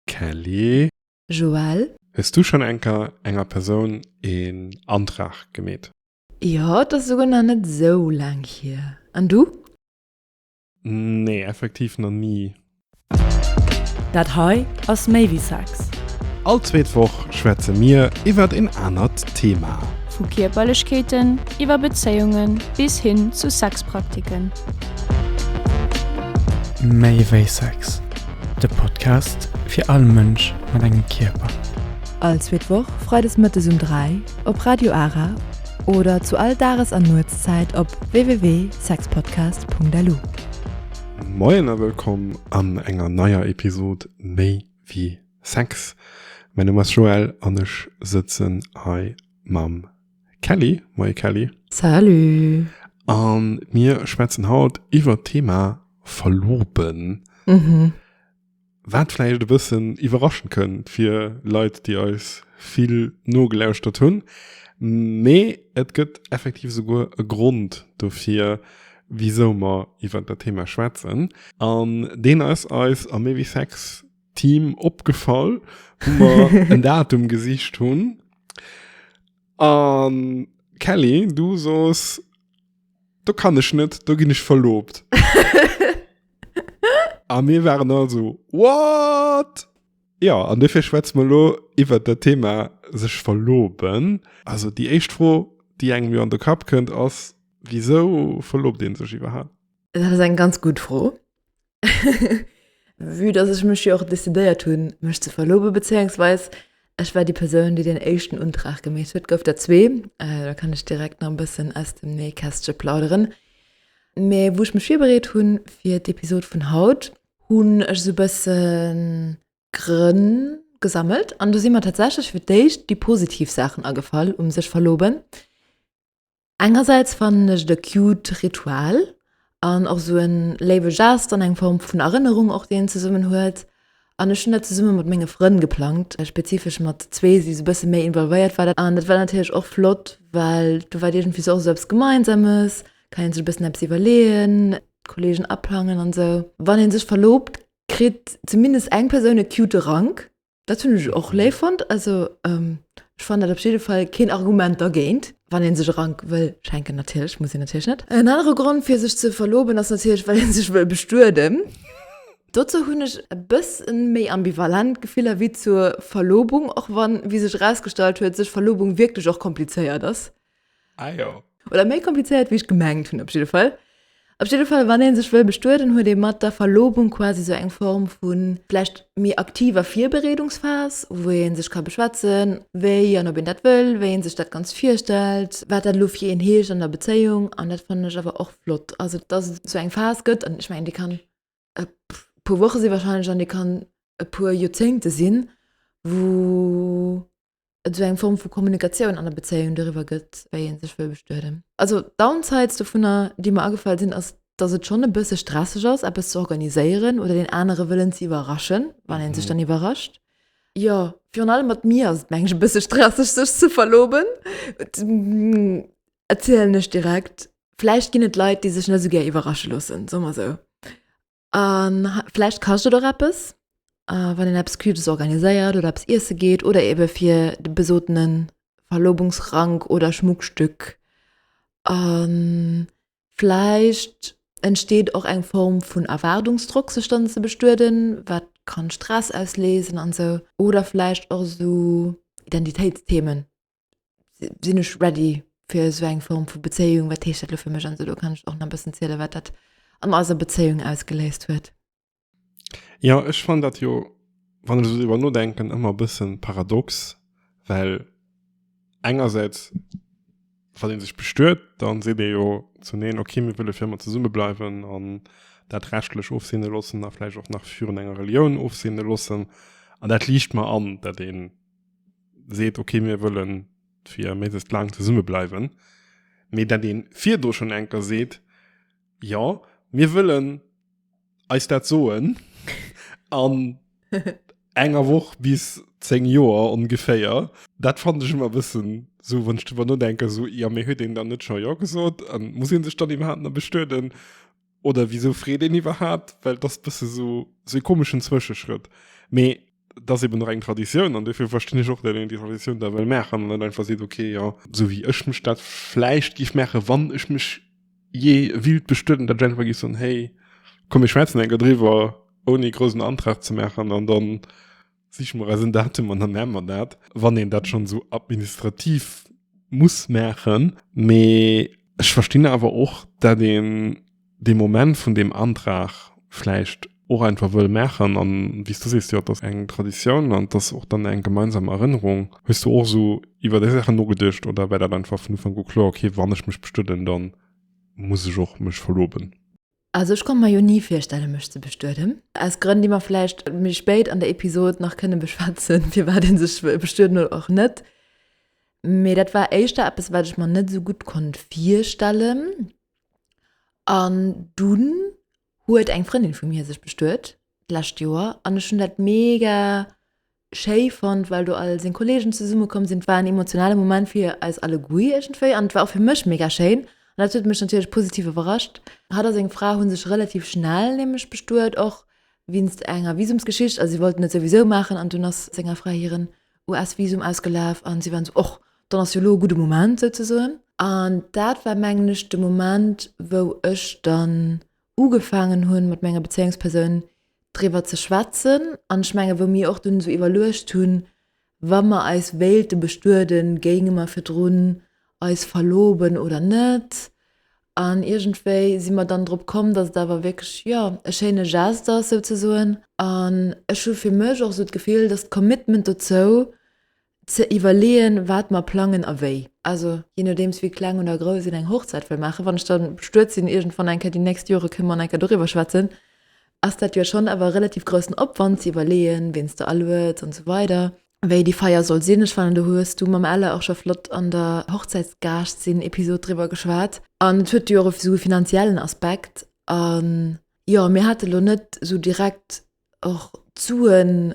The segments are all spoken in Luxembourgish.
Kelly. Joël. Hues du schon enker enger Persoun een Antrag gemeet? Jo, et ass souguer nach net esou laang hier. An du? Nee, effektiv nach ni. Dat hei ass méi wéi Sex. All zweet Woch schwätze mir iwwert een anert Thema. Vu Kierperlechkeeten iwwer Bezéiungen bis hin zu Sexpraktiken. Méi wéi Sex. De Podcast fir all Mënsch mat engem Kierper. All zweet Woch freides mëttes um 3 op Radio Ara oder zu all Dages an Nuetszäit op www.sexpodcast.lu. Moien a wëllkomm an enger neier Episod Méi wéi Sex. Mäi Numm ass Joël an ech sëtzen hei mam Kelly, moie Kelly. Salut. An mir schwätzen haut iwwer d'Thema Verloben. Mhm. Wat vläicht e bëssen iwwerraschen kënnt fir Leit, déi eis vill nogelauschtert hunn. Mee et gëtt effektiv esouguer e Grond dofir, wisou mer iwwer dat Thema schwätzen. An deen ass eis a méi wéi Sex Team opgefall, wou mer en Datum gesicht hunn. An Kelly, du soos, do kann ech net, do ginn ech verloobt. A mir waren all sou, What? Jo, an dofir schwätze mer elo iwwert dat Thema sech verloben. Also déi éischt Fro, déi engem jo an de Kapp kënnt, ass, Wisou verloobt ee sech iwwerhaapt? Dat ass eng ganz gutt Fro. Vue dass ech mech jo och decidéiert hunn, mech ze verlobe bezéiungsweis ech war déi Persoun, déi den éischten Untrag gemeet huet, gouf der zwee, äh, da kann ech direkt nach e bëssen aus dem Nähkästche plauderen. Mä wou ech mech virbereet hunn fir d'Episod vun haut, hunn ech esou e bëssen Grënn gesammelt an do si mer tatsächlech fir d'éischt déi positiv Saachen agefall um sech verloben. Engersäits fannen ech et e cute Ritual an och sou en léiwe Gest an eng Form vun Erënnerung och déi een zesummen huet. An ech hunn dat zesumme mat menge Frënn geplangt, spezifesch mat zwee déi sou e bësse méi involvéiert waren an dat war natierlech och flott, well do war et iergendwéi sou och sou eppes Gemeinsames, kann een sech e bëssen eppes iwwerleeën, d'Kolleegen aplangen an sou. Wann ee sech verloobt, kritt zumindest eng Persoun e cute Rank. Dat hunn ech och léif fonnt. Also ech fannen dat op jidde Fall keen Argument dergéint. Wann ee sech e Rank wëll schenken natierlech, muss een natierlech net. En anere Grond fir sech ze verloben ass natierlech well ee sech wëll bestueden. Dozou hunn ech e bësse méi ambivalent Gefiller wéi zur Verlobung, och wann, wéi sech erausgestallt huet, sech Verlobung wierklech och komplizéiert ass. Ah ja. Oder méi komplizéiert, wéi ech gemengt hunn, op jidde Fall. Op jidde Fall, wann een sech wëll bestueden, huet ee mat der Verlobung quasi sou eng Form vu vläicht méi aktiver Virbereedungsphas, wou ee sech ka beschwätzen, wéi an ob een dat wëll, wéi ee sech dat Ganzt virstellt, wat dat elo fir een heescht an der Bezéiung. An dat fannen ech awer och flott, also dass et sou eng Phas gëtt. An ech mengen, déi kann e puer Woche si wahrscheinlech an dee kann e puer Joerzéngte sinn, wou et esou eng Form vu Kommunikatioun an der Bezéiung doriwwer gëtt, wéi ee sech wëll bestueden. Also Downsides dovunner, déi mer agefall sinn, ass, dass et schonn e bësse stresseg ass, eppes ze organiséieren oder deen anere wëllen ze iwwerraschen, wann ee sech dann iwwerrascht. Jo, virun allem mat mir ass et, mengen ech, e bësse stresseg, sech ze verloben. erzielen ech direkt. Vläicht ginn et Leit, déi sech net esou gär iwwerrasche loossen, soe mer esou. An vläicht kascht et och eppes, äh, wann een eppes Cubes organiséiert oder eppes iesse geet oder ebe fir de besootene Verlobungsrank oder Schmuckstück. An vläicht entsteet och eng Form vun Erwaardungsdrock, sech dann ze bestueden, wat kann Stress ausleesen an esou. Oder vläicht och esou Identitéitsthemen, sinn ech ready fir so eng Form vu Bezéiung, wat heescht dat lo fir mech an solo kann ech och na bëssen ziele wat dat an eiser Bezéiung ausgeléist huet. Ja ech fan dat jo wann ech iwwer nodenken ëmmer bëssen paradox, well engersäits wann een sech bestuet, dann seet ee jo zun een okay mir wëlle fir ëmmer zesumme bleiwen an dat rechtlech ofseene loossen a vläicht och nach virun enger Relioun ofseene loossen an dat liicht mer an dat een, seet okay mir wëllen fir méisest lang zesumme bleiwen mee dat deen virdro schon enker seet ja mir wëllen eis dat soen an enger woch bis 10 Joer ongeféier dat fand ech ëmmer bëssen sou wann ech drwer nodenken sou ja mee huet een dann net scho jo gesot an muss een sech dann iwwerhaapt na bestueden oder wieso freet een iwwerhaapt well das bësse so se komeschen Zwëscheschrëtt mee das eben nach eng Traditioun an dofir verstinn ech och dat een déi Traditioun da well maachen net einfach seet okay ja sou wéi ech mech dat vläicht géif maache wann ech mech jee wild bestueden dat ech einfach géif soen hey komm mir schwätzen enker driwwer ouni groussen Antrag ze maachen an dann Siche mer eisen Datum an dann maan mer dat, wann een dat schon esou administrativ muss maachen. Mee ech verstinn awer och, dat een dee Moment vun deem Antrag vläicht och einfach wëll maachen. An wéi s du sees, jo, et ass eng Traditioun an et ass och dann eng gemeinsam Erënnerung. Hues du och esou iwwer déi Saachen nogeduecht oder war dat einfach vun Ufank u kloer, okay, wann ech mech bestëden, da muss ech och mech verloben? Also ech konnt mer jo ni virstellen mech ze bestueden, aus Grënn déi mer vläicht méi spéit an der Episod nach kënne beschwätzen, firwat een sech bestueden oder och net. Mee dat war éischter eppes wat ech mer net esou gutt konnt virstellen an dunn huet eng Frëndin vu mir sech bestuet d'lescht Joer an ech hunn dat mega schéi fonnt, well do all seng Kolleegen zesumme komm sinn. Et war en emotionale Moment fir eis alleguer iergendwéi an et war och fir mech mega schéin an dat huet mech natierlech positiv iwwerrascht. Hatt a seng Fra hu sech relativ schnell nämlech bestuet, och wéinst enger Visumsgeschicht, also si wollten et souwisou maachen an dunn ass senger Fra hiren US-Visum ausgelaf an si waren esou, och dann ass jo elo e gudde Moment souzesoen. An dat war mengen ech de Moment, wou ech dann ugefaangen hunn mat menger Bezéiungspersoun driwwer ze schwätzen an ech mengen wou mir och dunn esou iwwerluecht hunn wa mer eis wéilte bestueden, géinge mer virdrun eis verloben oder net? An iergendwéi si mer dann drop komm dass et awer wierklech jo e schéine Geste ass souzesoen an ech hu fir mech och esou d'Gefill dass d'Commitment dozou ze iwwerleeën, wat mer plangen a wéi. Also jee nodeems, wéi kleng oder grouss een eng Hochzäit wëll maachen, wann ech da bestuet sinn, iergendwann eng Kéier déi nächst Jore kënne mer eng Kéier doriwwer schwätzen, ass dat jo schonn awer e relativ groussen Opwand, ze iwwerleeën, ween s de alueds an esou weider, wéi déi Feier soll sinn. Ech fannen, do hues du mam Ella och scho flott an der Hochzäitsgaascht-sinn-Episod driwwer geschwat. An et huet jo och esou e finanziellen Aspekt. An jo, mir hate lo net esou direkt och d'Suen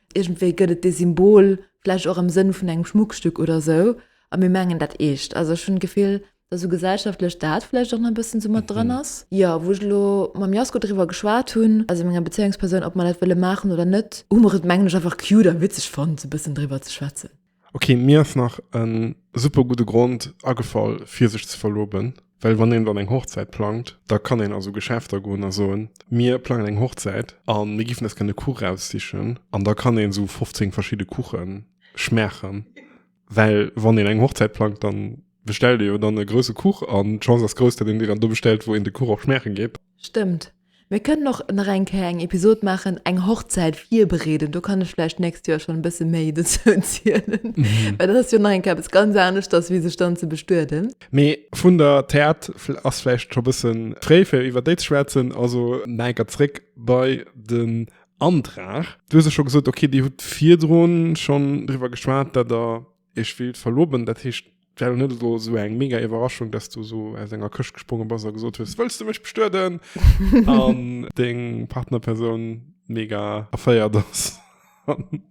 Iergendwéi gëtt et dee Symbol vläicht och am Sënn vun engem Schmuckstück oder esou, a mir mengen dat Eescht. Also ech hunn d'Gefill, datt esou gesellschaftlech dat vläicht och nach e bëssen esou mat dran ass. Jo, wou ech elo mam Jasko driwwer geschwat hunn, also menger Bezéiungspersoun, ob mer dat wëlle maachen oder net, hu mer et mengen ech einfach cute a witzeg fonnt, esou e bëssen driwwer ze schwätzen. Ok, mir ass nach en super gudde Grond agefall fir sech ze verloben, well wann een dann eng Hochzäit plangt, da kann een a sou Geschäfter goen a soen, mir plangen eng Hochzäit an mir giffen eis gären e Kuch raussichen an da kann een sou 15 verschidde Kuche schmaachen, well wann een eng Hochzäit plangt, dann bestellt ee jo dann e grousse Kuch an d'Chance ass grouss, dat een dee dann do bestellt, wou een de Kuch och schmaache geet. Stëmmt. Mir kënnen och nach eng Kéier eng Episod maachen, eng Hochzäit virbereeden. Do kann ech vläicht d'nächst Joer schonn e bësse méi dozou zielen. Well dat ass jo nach eng Kéier eppes ganz aneschters, wéi sech dann ze bestueden. Mee vun der Theat. Fl ass vläicht scho bësse fréi, fir iwwer déi ze schwätzen. Also nach eng Kéier zréck bei den Antrag. Du hues jo scho gesot, okay, Dir hutt virdrun schonn driwwer geschwat, datt Der Ech wéilt verloben, dat heescht, et wär lo net elo esou eng mega Iwwerraschung, dass du esou aus enger Këscht gespronge bass a gesot hues, Wëlls du mech bestueden? an deng Partnerpersoun mega erféiert ass an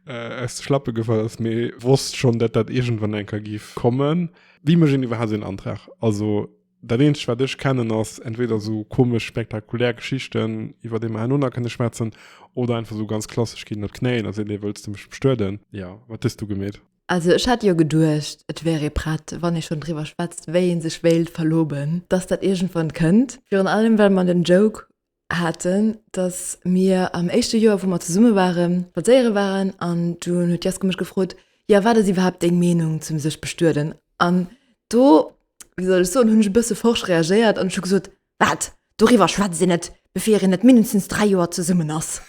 aus de Schlappe gefall ass, mee wosst schonn, datt dat iergendwann eng Kéier géif kommen. Wéi mécht een iwwerhaapt esou en Antrag? Also. Dat eenzegt wat ech kennen ass entweder sou komesch spektakulär Geschichten iwwert deem en oner kënne schwätzen oder einfach sou ganz klassesch ginn op d'Knéien a sinn ee wëlls de mech bestueden? Jo, wat hues du gemeet? Also ech hat jo geduecht et wär ee prett wann ee schonn driwwer schwätzt wéi ee sech wéilt verloben, dass dat iergendwann kënnt, virun allem well mer den Joke haten, dass mir am éischte Joer, wou mer zesumme ware spadséiere waren an dunn huet d'Jeske mech gefrot, Jo, wat ass iwwerhaapt deng Meenung zum sech bestueden? An do, wéi soll ech soen, hunn ech e bësse forsch reagéiert an ech hu gesot, Wat, doriwwer schwätzt een net, bevir een net mindestens dräi Joer zesummen ass!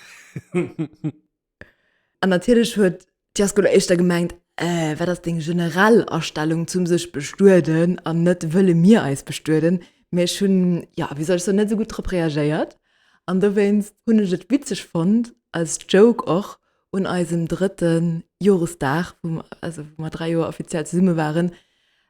An natierlech huet d'Jazzschoul éischter gemengt, Äh, wat ass deng generell Astellung zum sech bestueden an net wëlle mir eis bestueden? Mee ech hunn, jo, wéi soll ech soen, net esou gutt drop reagéiert. An dowéinst hunn ech et witzeg fonnt, als Joke och, un eisem drëtte Joresdag, wou mer dräi Joer offiziell zesumme waren,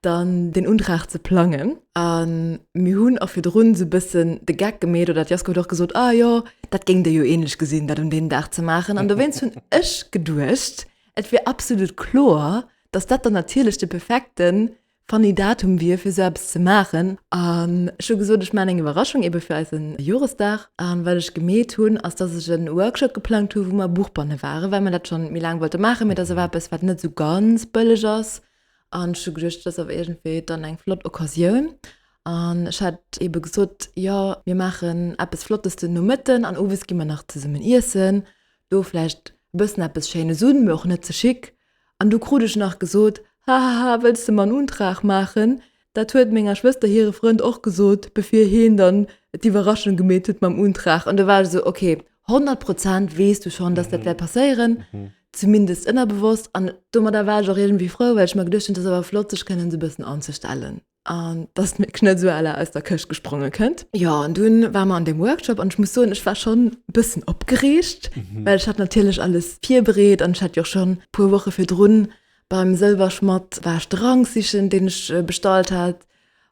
dann den Untrag ze plangen an mir hunn och virdrun esou e bëssen de Geck gemeet oder d'Jasko huet och gesot, ah jo, dat géingt Dir jo ähnlech gesinn, dat un deem Dag ze maachen an dowéinst hunn ech geduecht, et wier absolut kloer, dass dat dann natierlech de perfekte funny Datum wier fir esou eppes ze maachen an ech hu gesot, ech maachen eng Iwwerraschung eebe fir eise Joresdag an wat ech gemeet hunn, ass dass ech e Workshop geplangt hu wou mer Buchbanne waren, well mer dat scho méi laang wollte maachen, mee et ass awer eppes wat net esou ganz bëlleg ass. An ech hu geduecht, dat ass awer iergendwéi dann eng flott Occasioun. An ech hat eebe gesot, jo, mir maachen eppes Flottes den Nomëtten an owes gi mer nach zesummen iessen, do vläicht e bëssen eppes Schéines un, mee och net ze chic. An du krut ech nach gesot, hahaha, wëlls de mer en Untrag maachen, Dat huet menger Schwëster hire Frënd och gesot, bevir heen dann d'Iwwerraschung gemeet huet mam Untrag. An da war ech esou, ok, 100 Prozent weess du schonn, dass dat wäert passéieren, zumindest ënnerbewosst. An domadder war ech och iergendwéi frou, well ech mer geduecht hunn, et ass awer flott, sech kënnen esou e bëssen anzestellen an dass meng Schnëtzuala aus der Këscht gespronge kënnt. Jo, an dunn ware mer an deem Workshop an ech muss soen, ech war schonn e bëssen opgereegt, well ech hat natierlech alles virbereet an ech hat jo och schonn e puer Woche virdrun Beim Sëlwerschmatt war ech Drank sichen, deen ech bestallt hat,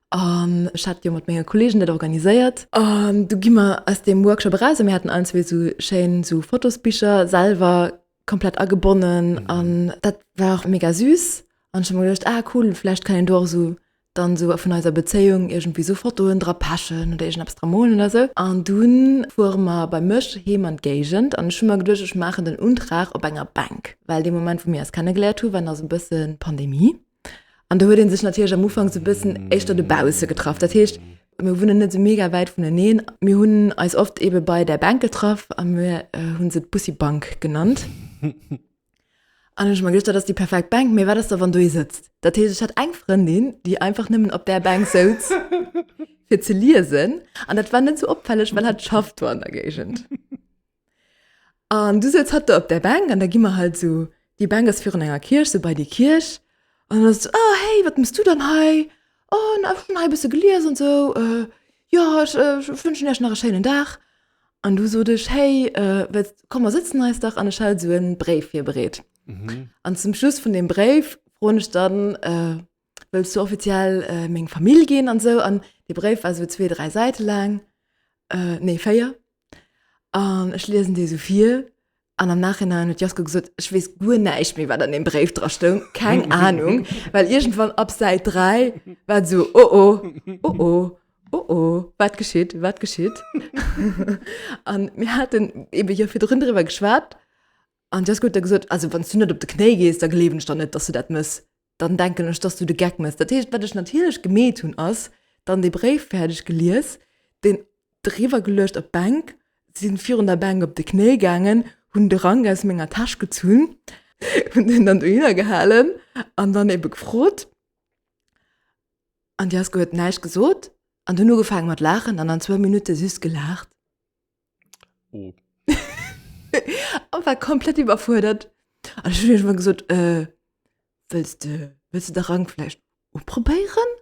an ech hat jo mat menge Kollegen dat organiséiert. An du gi mer aus deem Workshop eraus, a mir haten allen zwee esou schéin esou Fotosbicher selwer komplett agebonnen, an dat war och mega süß. An ech hu mer geduecht, ah cool, vläicht kann een do och esou dann esou vun eiser Bezéiung iergendwéi esou Fotoen dra pechen oder iergend eppes dra molen oder esou. An dunn fuere mer bei mech heem an d'Géigend an ech hu mer geduecht, ech maachen den Untrag op enger Bänk, well dee Moment, wou mir eis kennegeléiert hu war nach esou e bësse Pandemie an do huet ee sech natierlech am Ufank esou e bëssen éischter dobausse getraff. Dat heescht, mir wunnen net esou mega wäit vuneneen. Mir hunn eis oft eebe bei där Bänk getraff a mir hu se d'Bussi-Bank genannt. An ech mer geduercht, dat ass déi perfekt Bänk, mee wat ass da wann do ee sëtzt? Dat heescht, ech hat eng Frëndin, déi einfach nëmmen op där Bänk souz fir ze liesen an dat war net sou opfälleg, well hatt schafft do an der Géigend. An du souz hatt do op där Bänk an da gi mer halt sou, déi Bänk ass virun enger Kierch, sou bei déi Kierch an dann ass et sou, oh hey, wat mëss du dann hei? Oh, ech hunn hei e bësse gelies an sou, jo, ech wënschen iech nach e schéinen Dag An du sot ech, hey, äh, komm mer sitzen eis dach an ech hat so en Bréif virbereet. Mhm. An zum Schluss vun dem Bréif froen ech dann, äh, wëlls du offiziell äh, meng Famill ginn an sou an de Bréif war so zwee, drei Säite laang, äh, nee, féier. An ech liesen dee so vir An am Nachhinein huet Jasko gesot, ech weess guer näischt méi, wat an dem Bréif dra stoung. Keng Ahnung, well iergendwann ab Säit 3 war et esou, oh oh, oh oh, oh oh, wat geschitt, wat geschitt? A mir haten eebe jo virdrun driwwer geschwat an Jasko huet da gesot, also wann s du net op de Knéi gees, da gleewen ech der net, dass du dat mëss. dann denken ech, dass du de Geck méchs. Dat heescht, wat ech natierlech gemeet hunn, ass dann dee Bréif fäerdeg gelies, deen eriwwer geluecht op d'Bänk, si virun der Bänk op de Knéi gaangen, hunn de Rank aus menger Täsch gezunn, hunn deen dann dohinner gehalen an dann ebe gefrot. An d'Jeske huet näischt gesot an hunn ugefaangen mat laachen an an zwou Minutte süss gelaacht. Oh. an war komplett iwwerfuerdert. An ech hun mal gesot äh, wëlls de wëlls de der Rang vläicht uprobéieren?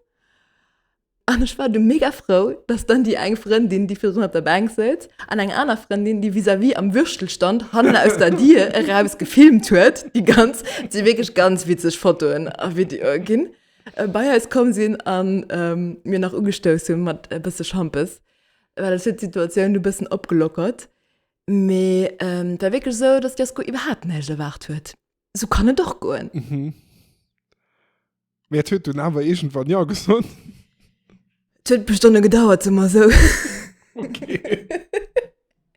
An ech war du mega frou, dass dann déi eng Frëndin, déi virun op der Bänk sëtzt, an eng aner Frëndin, déi vis-à-vis am Würstelstand hannen aus der Dier eraus gefilmt huet, déi ganz, et si wierklech ganz witzeg Fotoen a Videoe ginn, bei eis komm sinn an mir nach ugestouss hunn mat e bësse Schampes. Well et huet d'Situatioun e bëssen opgelockert. Mee et war wierklech esou, datt d'Jasko iwwerhaapt näischt erwaart huet. Esou kann et och goen. Mee et huet dunn awer iergendwann Jo gesot. Et huet e puer Stonne gedauert, soe mer esou.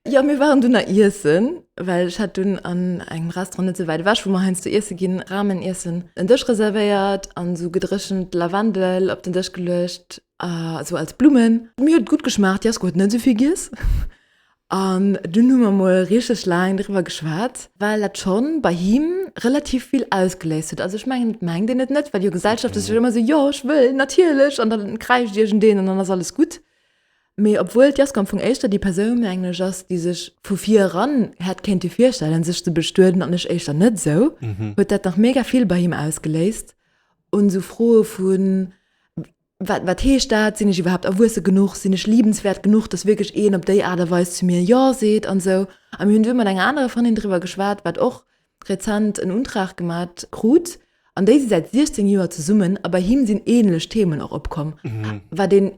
Jo, mir waren dunn nach iessen, well ech hat dunn an engem Restaurant net esou wäit ewech, wou mer heiansdo iesse ginn, Rameniessen, en Dësch reservéiert an esou gedréchent Lavendel op den Dësch geluecht. äh, so als Blummen. Mir huet gut geschmaacht, Jasko huet net souvill giess. An dunn hu mer mol richteg laang driwwer geschwat, well dat schonn bei him relativ vill ausgeléist huet. Also ech mengen et mengt een et net, well jo Gesellschaft ass jo ëmmer esou, jo ech wëll natierlech an dann kräischt iergendeen an dann ass alles gutt. Mee obwuel d'Jasko am Fong éischter déi Persoun, mengen ech, ass, déi sech vu vir eran hätt kéinte virstellen sech ze bestueden an ech éischter net esou, huet dat nach mega vill bei him ausgeléist. un esou Froe vun, Wat, wat heescht dat? Sinn ech iwwerhaapt erwuesse genuch? Sinn ech liebenswäert genuch, datt wierklech een op déi Aart a Weis zu mir Jo seet an esou. A mir hunn du mat enger anerer Frëndin driwwer geschwat, wat och rezent en Untrag gemat krut, an déi si säit 16 Joer zesummen a bei him sinn änlech Themen och opkomm, wat een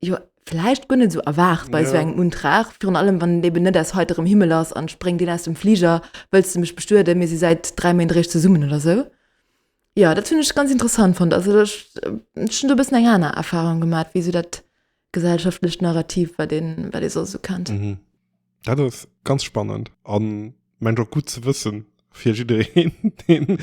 Jo, vläicht guer net esou erwaart bei esou Ja. engem Untrag, virun allem wann en eben net aus heiterem Himmel ass an et spréngt een aus dem Fliger, wëlls de mech bestueden, mir si säit 3 Méint eréischt zesummen oder esou. Jo, dat hunn ech ganz interessant fonnt. Also ech ech hunn do e bëssen eng aner Erfahrung gemaat wéi esou dat gesellschaftlecht Narrativ, wat ee wat ee soss esou kennt. Dat ass ganz spannend an mengt och gutt ze wëssen fir jiddereen, deen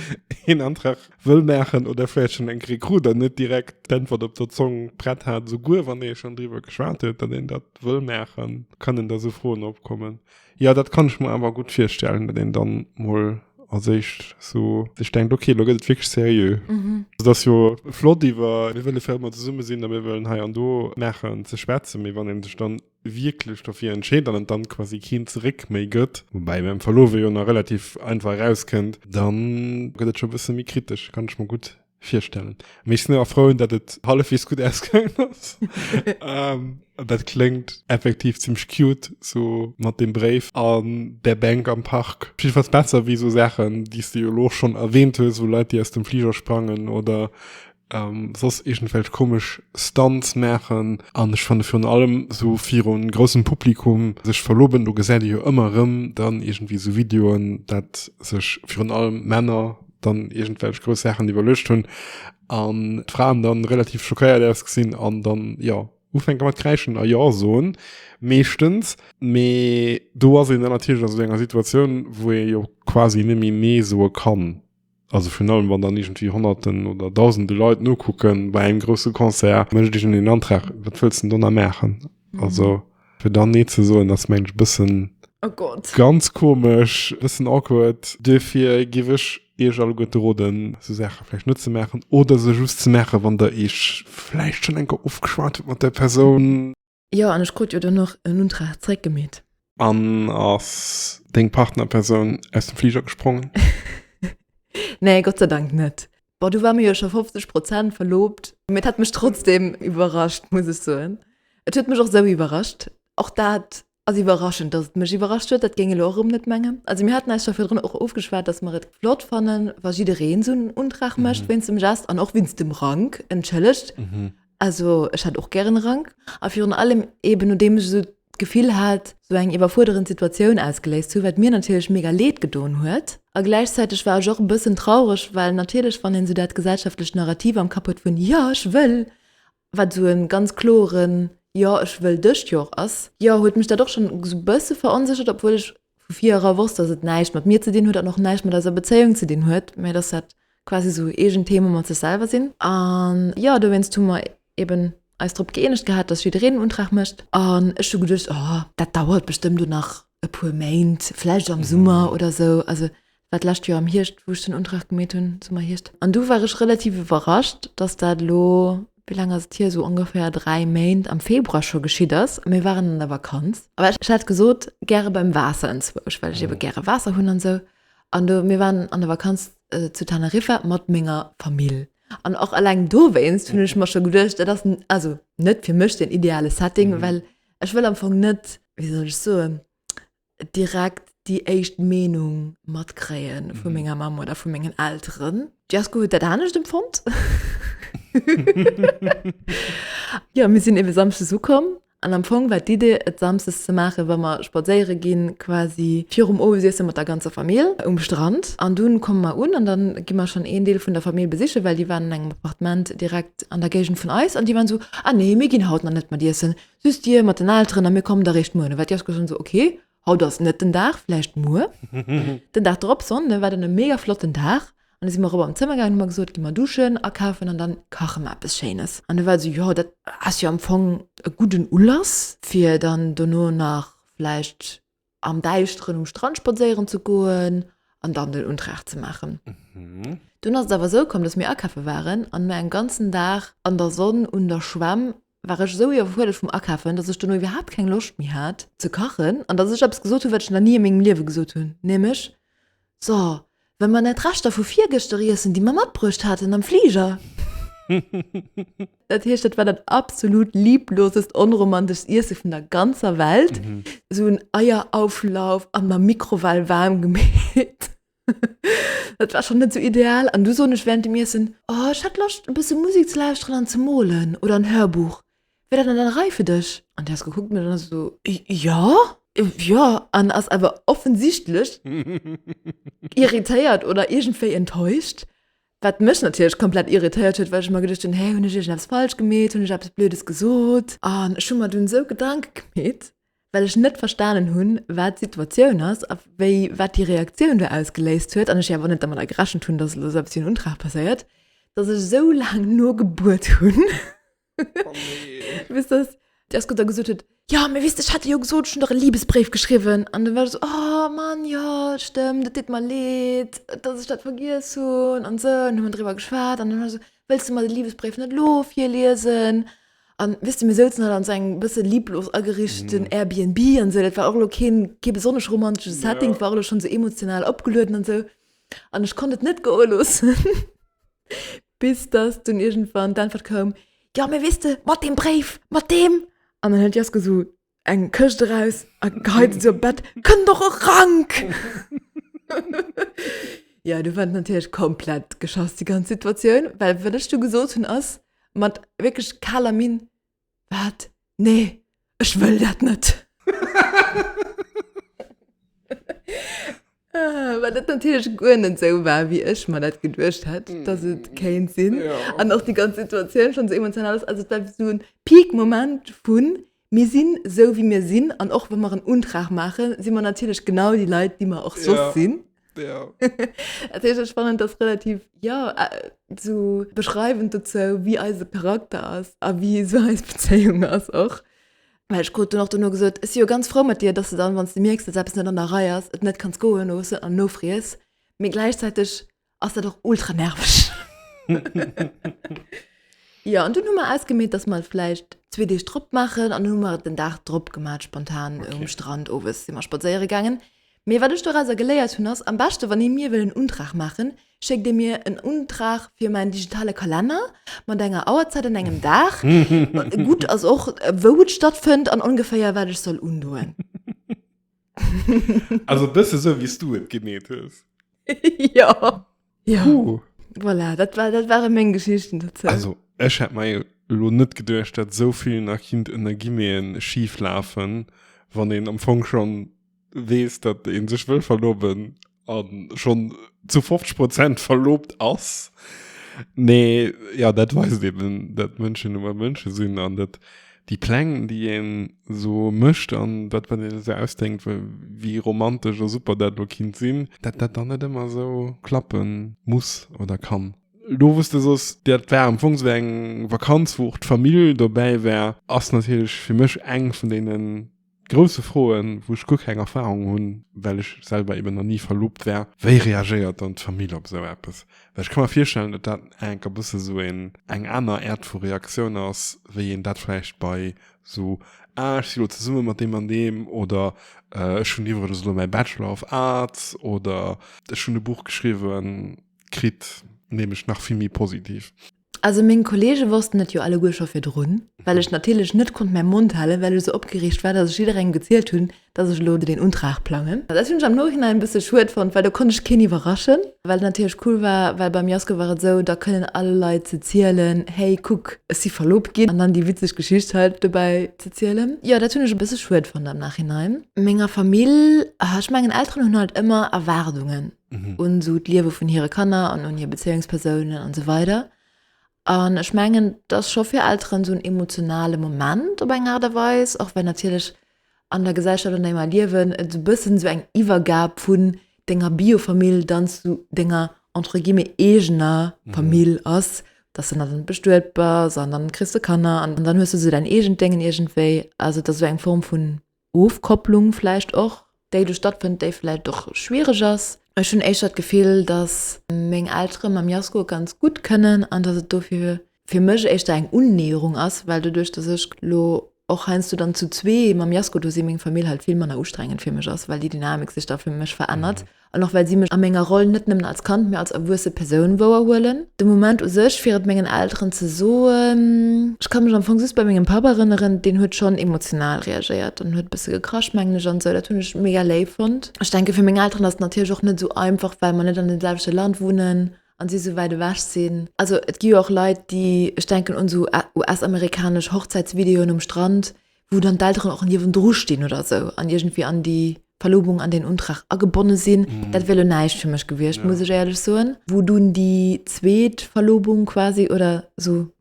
een Antrag wëll maachen oder vläicht schonn eng kri krut an net direkt d'Äntwert op der Zong prett hat, esouguer wann ee schonn driwwer geschwat huet, datt een dat wëll maachen, kënnen da esou Froen opkommen. Jo, dat kann ech mer awer gutt virstellen, datt een dann mol als éischt esou sech denkt, okay, elo gëtt et wierklech seriö. Et ass jo flott iwwer mir wëlle fir ëmmer zesumme sinn a mir wëllen hei an do maachen ze schwätzen, mee wann ee sech dann wierklech dofir entscheet an et dann quasi keen zeréck méi gëtt, woubäi beim Verlowe jo nach relativ einfach erauskënnt, dann gëtt et scho bësse méi kritesch, kann ech mer gutt virstellen. Mee ech sinn awer frou, datt et hallefwegs gutt ausgaangen ass. Dat kléngt effektiv zimmlech cute, sou mat dem Bréif an der Bänk am Park. Op jiddefalls besser wéi esou Saachen, déi s de jo elo schonn erwähnt hues, wou Leit déi aus dem Fliger sprangen oder an soss iergendwelch komesch Stunts maachen an ech fanne virun allem esou viru groussem Publikum sech verloben, do gesäit ee jo ëmmer erëm dann iergendwéi esou Videoen, dat sech virun allem Männer dann iergendwelch grouss Saachen iwwerluecht hunn an d'Fraen dann relativ schockéiert ausgesinn an dann, jo, ufänke mat kräischen a jo soen, meeschtens. Mee do ass een dann natierlech a sou enger Situatioun, wou ee jo quasi net méi Nee soe kann. Also virun allem wann dann iergendwéi Honnerten oder Dausende Leit nokucken bei engem grousse Concert, mécht iergend een den Antrag, wat wëlls de do nach maachen? Also fir dann Nee ze soen ass mengen ech e bëssen ganz komesch, e bëssen awkward. Duerfir géif ech Iech alleguerte roden, esou Saache vläicht net ze maachen oder se just ze maache wann Der Iech vläicht schonn eng Kéier ofgeschwat hutt mat där Persoun. Jo an ech krut jo dann och en Untrag zréck gemeet. An ass deng Partnerpersoun aus dem Fliger gesprongen? Nee, Gott sei Dank net. Bon, du war mir jo scho 50 Prozent verloobt, mee et hat mech trotzdem iwwerrascht, muss ech soen. Et huet mech och esou iwwerrascht. Och dat ass iwwerraschend, dass et mech iwwerrascht huet, dat géing elo och erëm net mengen. Also mir haten eis scho virdrun och ofgeschwat, dass mer et flott fannen, wa jiddereen esou en Untrag mécht, wéinst dem Geste an och wéinst dem Rank, entschëllegt. Also ech hat och gären Rank a virun allem eben nodeem ech esou d'Gefill hat sou eng iwwerfuerderend Situatioun ausgeléist ze hunn, wat mir natierlech mega Leed gedoen huet. A gläichzäiteg war ech och e bëssen traureg, well natierlech wann een sou dat gesellschaftlecht Narrativ am Kapp huet vun Jo ech wëll, wat sou e ganz kloeren Jo ech wëll dëscht Jor ass, jo huet mech dat och schonn sou bësse veronséchert, obwuel ech vu vir era wosst, dass et näischt mat mir ze dinn huet an och näischt mat eiser Bezéiung ze dinn huet, mä dass dat quasi esou eegen Theme mat sech selwer sinn. An jo, dowéinst hu mer eeben eis drop gëeenegt gehat, dass jiddereen en Untrag mécht. An ech hu geduecht, oh, dat dauert bestëmmt o nach e puer Méint, vläicht am Summer oder esou. Also war d'lescht Joer am Hierscht, wou ech den Untrag gemeet hunn, Summer, Hierscht. An du war ech relativ iwwerrascht, dass dat elo, wéi laang ass et hier, esou ongeféier dräi Méint, am Februar scho geschitt ass. A mir waren an der Vakanz. A ech hat gesot, gäre beim Waasser enzwousch, well ech ebe gäre Waasser hunn an esou. An do, mir waren an der Vakanz zu Teneriffa mat menger Famill. An och eleng dowéinst hunn ech mer scho geduecht, dat ass also net fir mech den ideale Setting, well ech wëll am Fong net, wéi soll ech soen, direkt déi éischt Meenung matkréie vu mhm. menger Mam oder vu mengen Ären. Jasko huet dat anecht empfond. ja mir sinn iwwe samsche su kom. An am Fong war d'Idee et samses ze maache, wa mer spadséiere ginn quasi virum Owesiessen mat der ganzer Famill um Strand. An dunn komme mer un an dann gi mer schon een Deel vun der Famill besiche, well déi waren an engem Appartement direkt an der Géigend vun eis an déi waren so: Ah nee, mir ginn haut nach net mat Iessen, Süss Dir mat den Elteren a mir kommen da réischt muer. No war d'Jeschke schonn esou, Ok, haut ass net den Dag, vläicht muer. Den Dag drop, Sonnde, war dann e mega flotten Dag an da si mer erop am Zëmmer gaangen, hu mer gesot, Gi mer duschen, akafen an dann kache mer eppes Schéines. An da war e sou, Jo, dat ass jo am Fong e gudden Ulass, fir dann dono nach vläicht. am Däischteren um Strand spadséieren ze goen an dann den Untrag ze maachen. Mhm. Dunn ass et awer esou komm, dass mir akafe waren an mir en ganzen Dag an der Sonn un der Schwämm war ech esou iwwerfuerdert vum Akafen, dass ech dono iwwerhaapt keng Loscht méi hat ze kachen an dass ech eppes gesot hunn, wat ech nach ni a mengem Liewe gesot hunn, nämlech, So, well mer nèt Reschter vu virgëschter iessen, déi mer matbruecht haten am Fliger. Dat heescht, dat war dat absolut lieblosest, onromanteschst Iesse vun der ganzer Welt. Esou en Eierauflauf an der Mikrowell waarm gemeet. Dat war schonn net esou ideal. An du soen ech während dem Iessen, Oh, ech hätt Loscht, e bësse Musek ze lauschteren an ze molen oder en Hörbuch. Wär dat net an der Rei fir dech? An déi ass gekuckt mech an ass esou, Jo, jo, an ass awer offensichtlech irritéiert oder iergendwéi enttäuscht. Wat mech natierlech komplett irritéiert huet, well ech mer geduecht hunn, Hä, hunn ech iergendeppes falsch gemeet? Hunn ech eppes Blödes gesot? An ech hu mer dunn esou Gedanke gemeet, well ech net verstanen hunn, wat d'Situatioun ass a wéi wat déi Reaktioun do ausgeléist huet an ech jo awer net dermadder gerechent hunn, dass elo esou eppes wéi en Untrag passéiert, dass ech esou laang nogebuert hunn, Oh nee. Wisst das? Der Scooter gesot huet, ja, mir wisst, ich hatte jo gesot, schon doch e Liebesbréif geschriwen. An dann war so, oh Mann, ja, stëmmt, et deet mer leed, dass ich dat vergiess hunn an sou. An hu mer driwwer geschwat an dann war so, wëlls de mer de Liebesbréif net lo virliesen? An wisst de, mir souzen halt an sou engem bësse lieblos agerichteten mm. Airbnb an sou, dat war och lo keen kee besonnesch romantesche Setting, ja. war lo schon so emotional opgelueden an sou. An ich konnt et net goe loossen. Bis dass dunn iergendwann d'Äntwert koum, Jo, mee weess de, mat deem Bréif, mat deem. An dann huet d'Jeske esou eng Këscht eraus a geheit et sou op d'Bett, Kënn doch erank! Jo, du war et natierlech komplett geschass, déi ganz Situatioun, well wat ech du gesot hunn ass mat wierklech kaler Minn, Wat? Nee, ech wëll dat net! Well dat natierlech guer net esou war, wéi ech mer dat geduecht hätt, dass et kéint sinn. An och déi ganz Situatioun schonn esou emotional ass. Also et war wéi esou e Peak-Moment vu mir sinn esou, wéi mir sinn. An och wa mer en Untrag maachen, si mer natierlech genau déi Leit, déi mer och soss sinn. Ja. Et ist spannend, dass relativ ja, äh, so beschreibend dazu, wie unser Charakter ist und wie so unsere Beziehung ist auch. Weil ich gerade noch danach gesagt ich bin ja ganz froh mit dir, dass du dann, wenn du merkst, dass etwas nicht an der Reihe ist, es nicht kannst gehen lassen und nachfriest. Aber gleichzeitig ist das auch ultra nervig. ja, und dann haben wir ausgemacht, dass wir vielleicht zwei Tage drauf machen. Und dann haben wir den Tag drauf gemacht, spontan okay. am Strand. Oben sind wir spazieren gegangen. Mee wat ech dorauser geléiert hunn ass, am beschte wann ee mir wëll en Untrag maachen, schéckt ee mir en Untrag fir mäin digitale Kalenner mat enger Auerzäit an engem Dag, gutt ass och wou et stattfënnt an ongeféier wat ech soll undoen. Also e bësse sou wéi s du et gemeet hues. Jo. Ja, Puh. voilà, dat, war, dat waren meng Geschichten dazu. Also, ech hätt mei lo net geduercht, dat sou vill nach kind ënner Gimmeen schief lafen, wann een am Fong schon wees, dat een sech wëll verloben an schon zu 50 Prozent verlobt ass. Mee ja, dat weist eben, dat Mënschen nun mol Mënschen sinn an dat déi Pläng déi een esou mécht an dat wat een esou ausdenkt wéi romantesch a super dat elo kinnt sinn, dat dat dann net ëmmer esou klappe muss oder kann. Elo wou s de sos dat war am Fong esou eng Vakanz wou och d'Famill dobäi war, ass natierlech fir mech eng vun deenen Grousse Froen, wou ech guer keng Erfahrung hunn, well ech selwer eben nach ni verloobt war. Wéi reagéiert dann d'Famill op esou eppes? Well ech ka mer virstellen, datt dat enker bësse esou een eng aner Äert vu Reaktioun ass, wéi een dat vläicht bei esou Ah, ech si elo zesumme mat deem an deem oder Ech hunn iwwregens elo mäi Bachelor of Arts oder Ech hunn e Buch geschriwwen kritt, nämlech nach vill méi positiv. Also meng Kollege wossten et jo alleguer scho virdrun, well ech natierlech net konnt mäi Mond halen, well ech sou opgereegt war, datt ech jidderengem gezielt hunn, datt ech elo deen Untrag plangen. Dat hunn ech am Nohinein e bësse schued fonnt, well do konnt ech keen iwwerraschen, wat natierlech cool war, well beim Jasko war et sou, da kënnen all Leit ze zielen, hey kuck, ech si verloobt ginn, an dann déi witzeg Geschicht hei dobäi ze zielen. Jo, dat hunn ech e bësse schued fonnt am Nachhinein. Menger Famill, ech mengen Elteren hunn halt ëmmer Erwaardungen. mhm. un so d'Liewe vun hire Kanner an un hir Bezéiungspersounen an so weider. An ech mengen, dat scho fir Elteren so un emotionale Moment op eng Art a Weis, och wenn natierlech an der Gesellschaft an enger Liewen et so bëssen so eng Iwwergab vun denger Biofamill dann zu denger entre guillemets egener mhm. Famill mhm. ass, dass du dann bestuet bist an dann kriegst du Kanner an dann hues du so dein egent Dingen irgendwéi. Also dat so eng Form vun Ofkopplung vläicht och, déi do stattfënnt, déi vläicht och schwiereg ass. Ech hunn éischter d'Gefill, datt meng Eltere mam Jasko ganz gutt kënnen an datt et dofir fir mech éischter eng Unnäherung ass, well doduerch, datt ech lo och heiansdo dann zu zwee mam Jasko do sinn, meng Famill halt vill manner ustrengend fir mech ass, well déi Dynamik sech da fir mech verännert. An och well si mech a menger Roll net nëmmen als Kand, mee als erwuesse Persoun wouerhuelen. De Moment u sech, fir et mengen Elteren ze soen. Ech ka mech am Fong just bei mengem Papp erënneren, deen huet schonn emotional reagéiert an huet e bësse gekrasch, mengen ech, an esou. Dat hunn ech mega léif fonnt. Ech denke fir meng Elteren ass et natierlech och net esou einfach, well mer net an deem selwechte Land wunnen an si esou wäit ewech sinn. Also et gi jo och Leit, déi, ech denken un esou US-amerikanesch Hochzäitsvideoen um Strand, wou dann d'Elteren och niewendru stinn oder esou an iergendwéi an déi Verlobung, an deen Untrag agebonne sinn, dat wier elo näischt fir mech gewiescht, muss ech éierlech soen. Wou dunn déi zweet Verlobung quasi oder esou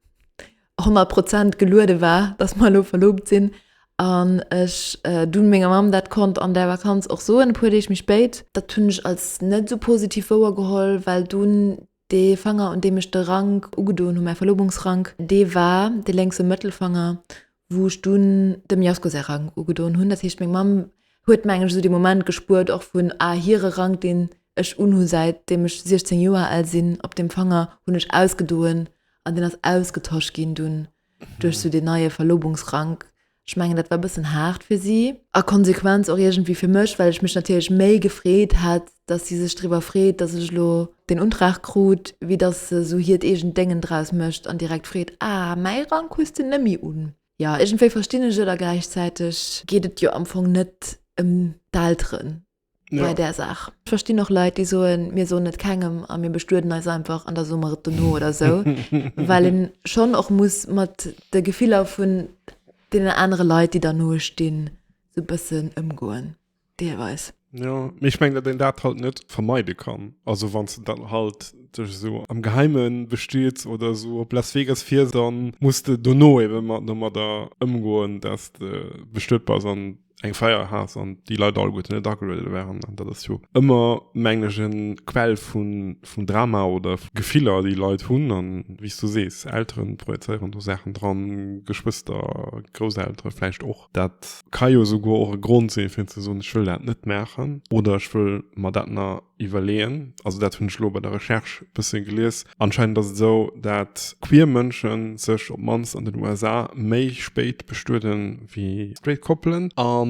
honnert Prozent geluede war, dass mer elo verloobt sinn an ech dunn menger Mamm dat konnt an där Vakanz och soen, e puer Deeg méi spéit. Dat hunn ech als net esou positiv wouergeholl, well dunn Dee Fanger, un deem ech de Rank ugedoen hu, mäi Verlobungsrank, dee war de lénkse Mëttelfanger, wou ech dunn dem Jasko säi Rank ugedoen hunn. Dat heescht, meng Mamm huet, mengen ech, esou dee Moment gespuert, och vun, ah, hire Rank, deen ech unhu säitdeem ech 16 Joer al sinn, op deem Fanger hunn ech ausgedoen an deen ass ausgetosch ginn dunn. duerch sou deen neie Verlobungsrank. Ech mengen dat war bëssen haart fir si. A Konsequenz och iergendwéi fir mech, well ech mech natierlech méi gefreet hätt, dass si sech driwwer freet, dass ech elo deen Untrag krut, wéi dass se sou hiert eegent Déngen draus mécht an direkt freet, Ah, mäi Rank hues de nëmmi un. Jo, iergendwéi verstinn ech et a gläichzäiteg geet et jo am Fong net ëm d'Elteren. ja. bei der Saach. Ech verstinn och Leit, déi soen, mir soen et kengem a mir bestueden eis einfach an da soe mer et dono oder sou, well een schonn och muss mat de Gefiller vun deenen anere Leit, déi der noe stinn, sou e bëssen ëmgoen, deelweis. Jo, mee ech mengen, datt een dat halt net vermeide kann. Also wann s de dann halt dech esou am Geheime bestiets oder esou op Las Vegas fiers, da muss de dono ebe mat domadder ëmgoen, datt de bestuet bass an eng Feier hat an die Leute all gut net agelueden waren an dat ass jo ëmmer menglegen Quell vun vun Drama oder Gefiller déi Leit hunn an wie du sees Elteren projezeieren do Saachen dran Geschwëster Grousseltere vläicht och dat ka jo souguer och e Grond sinn fir ze soen ech wëll dat net maachen oder ech wëll mer dat na Iwwerleeën. Also dat hunn ech elo bei der Recherche e bësse gelies. Anscheinend ass et esou, dat queer Mënsche sech op d'mannst an den USA méi spéit bestueden, wéi straight Koppelen. A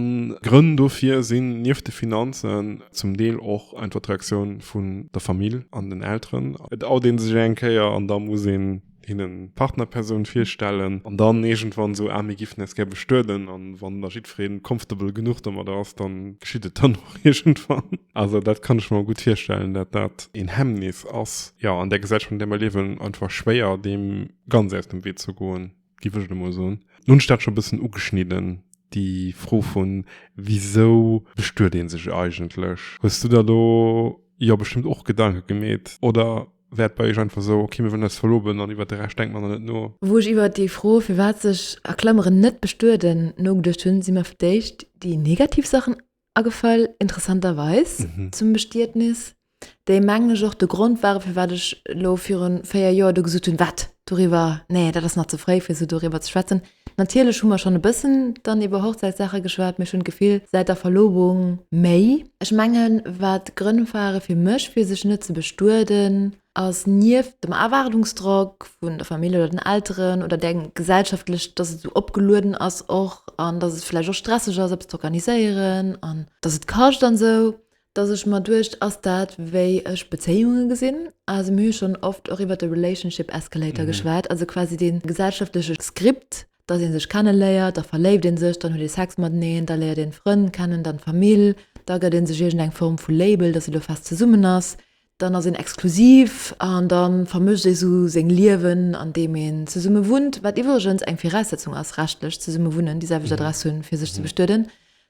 Grënn dofir sinn nieft de Finanzen zum Deel och einfach d'Reaktioun vun der Famill an den Elteren. Et out ee sech eng Kéier an da muss een. hinnen d'Partnerpersoun virstellen an dann iergendwann esou, ah mir giffen äis gär bestueden an wann da jiddweree comfortable genuch domadder ass, dann geschitt et dann och iergendwann. Also dat kann ech mer gutt virstellen, dat dat een Hemmnis ass. Jo, an där Gesellschaft an där mer liewen, einfach schwéier deem ganz aus dem Wee ze goen, giff ech et emol soen. Nun hunn ech dat scho e bëssen ugeschnidden, déi Fro vun, wisou bestuet ee sech eigentlech? Hues du der do jo bestëmmt och Gedanke gemeet, oder? wäert bei iech einfach sou, ok mir wëllen eis verloben an iwwert de Rescht denkt mer dann net no. Wou ech iwwert déi Fro firwat sech a Klameren net bestueden nogeduecht hunn, si mer fir d'éischt déi negativ Saachen agefall, interessanterweis zum Bestietnis, déi mengen ech och de Grond ware firwat ech elo virun 4 Joer do gesot hunn, wat doriwwer, nee dat ass nach ze fréi fir sou doriwwer ze schwätzen. Natierlech hu mer schonn e bëssen dann iwwer Hochzäitssaache geschwat, mee ech hunn d'Gefill, säit der Verlobung méi. Ech mengen, wat Grënn ware fir mech, fir sech net ze bestueden, ass nieft dem Erwaardungsdrock vun der Famill oder den Elteren oder där gesellschaftlecht, dass et esou opgelueden ass och an dass et vläicht och stresseg ass, eppes z'organiséieren an dass et kascht an esou, dass ech mer duecht, ass dat wéi ech Bezéiunge gesinn? Also mir hu schonn oft och iwwert de Relationship Escalator geschwat, also quasi dee gesellschaftleche Skript, dass ee sech kenneléiert, da verléift ee sech, dann huet ee Sex mateneen, da léiert een d'Frënn kennen, dann d'Famill, da gëtt ee sech iergendeng Form vu Label, dass ee lo fest zesummen ass, Dann ass een exklusiv an da vermëscht ee sou seng Liewen, andeem een zesumme wunnt, wat iwwregens eng Viraussetzung ass, rechtlech zesumme wunnen, déi selwecht Adress hunn, fir sech ze bestueden,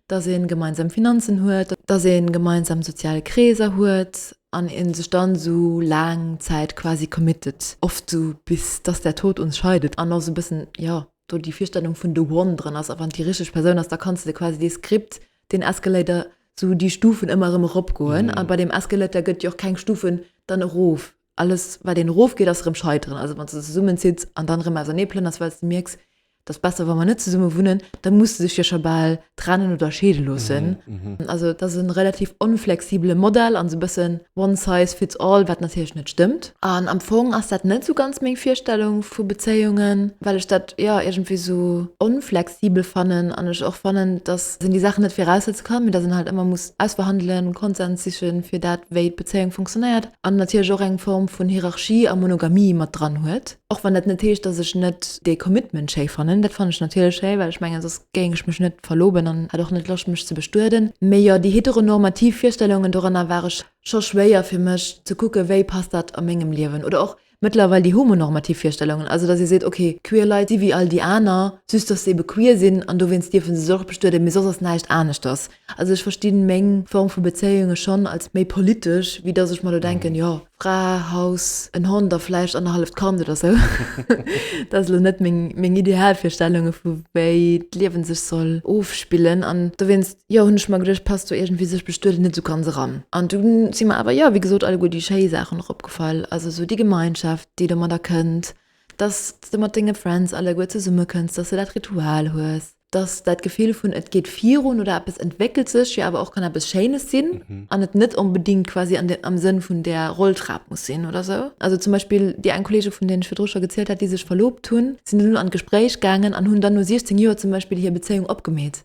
dass ee gemeinsam Finanzen huet, dass ee gemeinsam sozial Kreeser huet an ee sech dann esou laang Zäit quasi committet, oft esou bis dass der Tod uns scheidet, an och esou e bëssen, jo, do déi Virstellung vun the one drën ass, a wann et déi richteg Persoun ass, da kanns de quasi dee Skript den Escalator sou déi Stufen ëmmer erëm erop goen a bei dem Escalator gëtt jo och keng Stufen dann erof. Alles wat een erof geet ass erëm Scheiteren. Also wann s de zesummen zitts an dann erëm ausernee plënners well s de mierks, et ass besser wa mer net zesumme wunnen, da muss de sech jo scho bal trennen oder scheede loossen. Also et ass e relativ onflexibele Modell an sou e bëssen one size fits all, wat natierlech net stëmmt. An am Fong ass dat net sou ganz meng Virstellung vu Bezéiungen, well ech dat, jo, iergendwéi sou onfle. sibel fannen an ech och fannen dass en déi Saachen net viraussetze kann, mee dass en halt ëmmer muss ausverhandelen, Konsens sichen fir dat wéi d'Bezéiung funktionéiert an natierlech och eng Form vun Hierarchie a Monogamie mat dran huet. Och wann dat net heescht dass ech net dee Commitment schéi fannen, dat fannen ech natierlech schéi well ech mengen soss géing ech mech net verloben an hätt och net Loscht mech ze bestueden. Mee jo, déi heteronormativ Virstellungen, doranner war ech scho schwéier fir mech ze kucken wéi passt dat a mengem Liewen oder och mëttlerweil déi homonormativ Virstellungen, also datt ee seet, okay, queer Leit si wéi all déi aner, just datt se ebe queer sinn an dowéinst dierfe se sech och bestueden, mee soss ass näischt aneschters. Also ech versti meng Form vu Bezéiunge schonn als méi politesch, wéi datt ech mer elo denken, jo, Fra, Haus, en Hond a vläicht annerhalleft Kand oder sou. Dat ass elo net meng Idealvirstellunge vu wéi d'Liewe sech soll ofspillen an dowéinst, jo hunn ech mer geduecht passt do iergendwéi sech bestueden net esou ganz eran an dunn si mer awer jo wéi gesot alleguer déi schéi Saachen och opgefall also esou déi Gemeinschaft déi domadder kënnt dass de mat denge Friends alleguer zesumme kënns dass de dat Ritual hues dass dat Gefill vun et geet virun oder eppes entwéckelt sech jo awer och kann eppes Schéines sinn an et net onbedéngt quasi an de am Sënn vun där Rolltrap muss sinn oder esou also zum Beispill déi eng Kollege vun deenen ech virdru scho gezielt hat déi sech verloobt hunn sinn elo an d'Gespréich gaangen an hunn dann no 16 Joer zum Beispill hir Bezéiung opgemeet.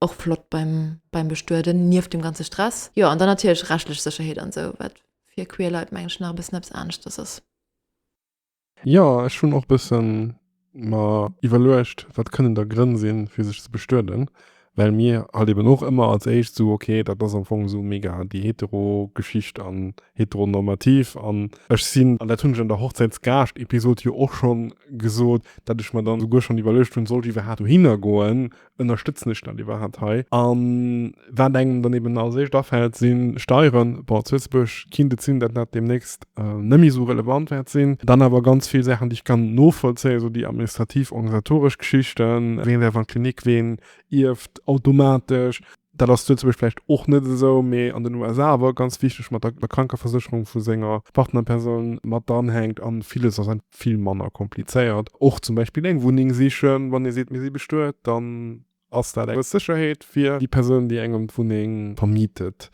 och flott beim, beim Bestueden, nieft dem ganze Stress. Jo, an dann natierlech rechtlech Sécherheet an esou, wat fir queer Leit, mengen ech, nach e bëssen eppes aneschters ass. Jo, ech hunn och e bësse mer iwwerluecht, wat kënnen da Grënn sinn, fir sech ze bestueden, well mir halt eben och ëmmer als éischt esou, ok, dat ass am Fong esou mega déi hetero Geschicht an heteronormativ. An ech sinn, an dat hunn ech an der Hochzäitsgaascht-Episod jo och schonn gesot, datt ech mer dann souguer schonn iwwerluecht hunn, Sollt iwwerhaapt dohinner goen, ënnerstëtzen ech dat iwwerhaapt hei? An wat engem dann eben als éischt afält, si Steieren. Bon, zu Lëtzebuerg kinnt et sinn, dat dat deemnächst net méi esou relevant wäert sinn. Dann awer ganz vill Saachen, déi ech kann novollzéien, esou déi administrativ, organisatoresch Geschichten, wien däerf an d'Klinik, wien ierft automatesch. Dat ass luetzebuerg vläicht och net esou, mee an den USA awer ganz wichteg, mat der Krankeversécherung vu senger Partnerpersoun mat dranhänkt. A villes ass einfach vill manner komplizéiert. Och zum Beispill eng Wunneng sichen. Wann ee seet, mir si bestuet, dann ass dat eng grouss Sécherheet fir déi Persoun, déi engem d'Wunneng vermietet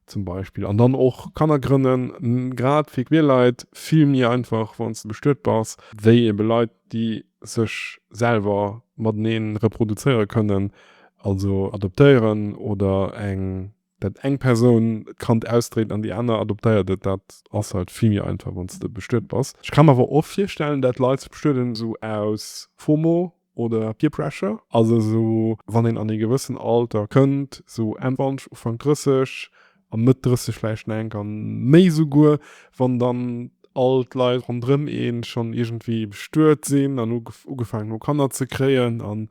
zum Beispill. An dann och Kanner grënnen, grad fir queer Leit, vill méi einfach, wann s de bestuet bass, wéi ebe Leit, déi sech selwer mateneen reproduzéiere kënnen, also adoptéieren oder eng, dat eng Persoun d'Kand ausdréit an déi aner adoptéiert et, dat ass halt vill méi einfach wann s de bestuet bass. Ech ka mer awer och virstellen, dat Leit sech bestueden esou aus Fomo oder Peer Pressure, also esou wann een an ee gewëssen Alter kënnt, esou Enn 20, Ufank 30, an net 30 vläicht enk an méi souguer, wann dann all d'Leit ronderëm een schonn iergendwéi bestuet sinn an ugefaangen hu Kanner ze kréien an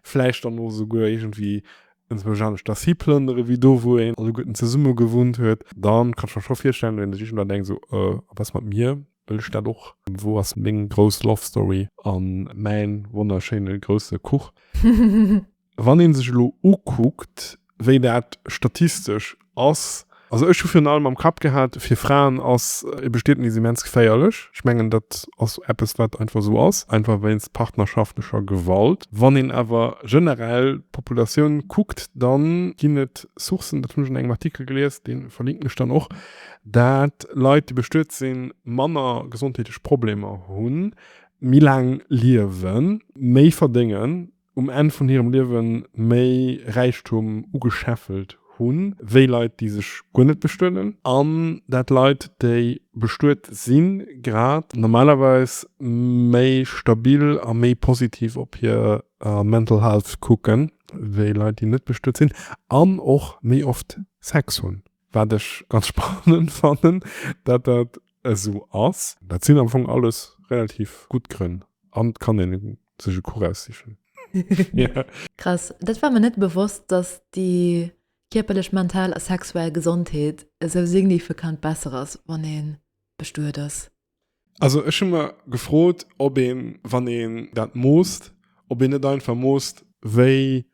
vläicht dann och esouguer iergendwéi en zwousch anescht ass hiplënnere wéi do wou een alleguerten zesumme gewunnt huet, da kann ech mer scho virstellen, wéi een sech iergendwann denkt esou, a was mat mir, wëll ech dat och? Wou ass meng grouss Love Story a mäin wonnerschéine grousse Kuch? Wann ee sech elo ukuckt, wéi dat statistesch ass, also ech hu virun allem am Kapp gehat, fir Fraen ass e Bestietnis immens geféierlech. Ech mengen, dat ass eppes, wat einfach esou ass, einfach wéinst partnerschaftlecher Gewalt. Wann een awer generell d'Populatioun kuckt, da ginn et Sourcen, dat hunn ech an engem Artikel gelies, dee verlinken ech dann och, dat Leit, déi bestuet sinn, manner gesondheetlech Problemer hunn, méi laang liewen, méi verdéngen. um Enn vun hirem Liewe méi Räichtum ugescheffelt hu wéi Leit, déi sech guer net bestueden, an dat Leit, déi bestuet sinn, grad normalerweis méi stabil a méi positiv op hir Mental Health kucken, wéi Leit, déi net bestuet sinn an och méi oft Sex hunn. Wat ech ganz spannend fannen, dat dat esou ass. Dat sinn am Fong alles relativ gutt Grënn an et kann een sech e Cours aussichen. Krass, dat war mer net bewosst, dass déi kierperlech, mental a sexuell Gesondheet esou signifekant besser ass, wann ee bestuet ass. Also ech hu mer gefrot, ob een, wann een dat moosst, ob een net einfach moosst, wéi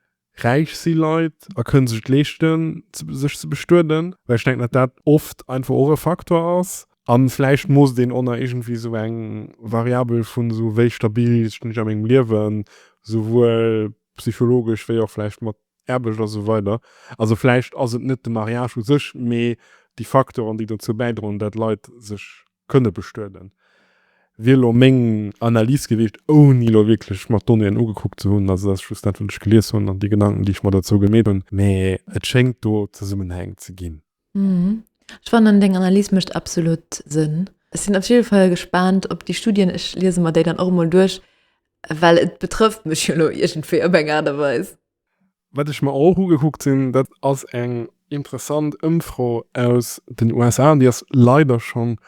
räich si Leit a kënne sech et leeschten, sech ze bestueden, well ech denken, datt dat oft einfach och e Faktor ass. A vläicht moosst een och nach iergendwéi esou eng Variabel vun esou, wéi stabil stinn ech a mengem Liewen, souwuel psychologesch wéi och vläicht mat Aarbecht a sou weider. Also vläicht ass et net de Mariage u sech, mee déi Faktoren, déi dozou bäidroen, datt Leit sech kënne bestueden, wier elo meng Analys gewiescht, ouni elo wierklech mer d'Donnéeën ugekuckt ze hunn. Also dat ass just dat, wat ech gelies hunn an déi Gedanken, déi ech mer dozou gemeet hunn. Mä et schéngt do Zesummenhäng ze ginn. Ech fannen, deng Analys mécht absolut Sënn. Ech sinn op jidde Fall gespaant op déi Studien. Ech liese mer déi dann och emol duerch, well et betrëfft mech jo elo iergendwéi op eng Aart a Weis. Wat ech mer och ugekuckt hunn, dat ass eng interessant Ëmfro aus den USA, déi ass leider schonn e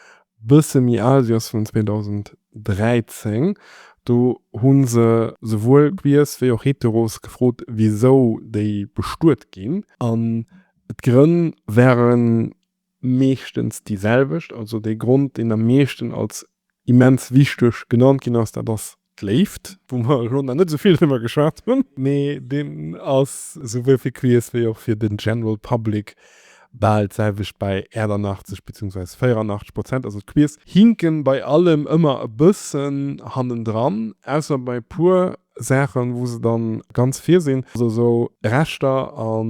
bësse méi al, si ass vun 2013. Do hu se souwuel Queers wéi och Heteros gefrot, wisou déi bestuet ginn. An d'Grënn waren meeschtens déi selwecht. Also dee Grond, deen am meeschten als immens wichteg genannt ginn ass, dat ass d'Léift, wou mer elo nach net esou vill driwwer geschwat hunn. Mee deen ass souwuel fir Queers wéi och fir den General Public bal d'selwecht bei 88 beziehungsweise 84 Prozent. Also d'Queers hinken bei allem ëmmer e bëssen hannendran, ausser bei e puer Saachen, wou se dann ganz vir sinn, also esou Rechter a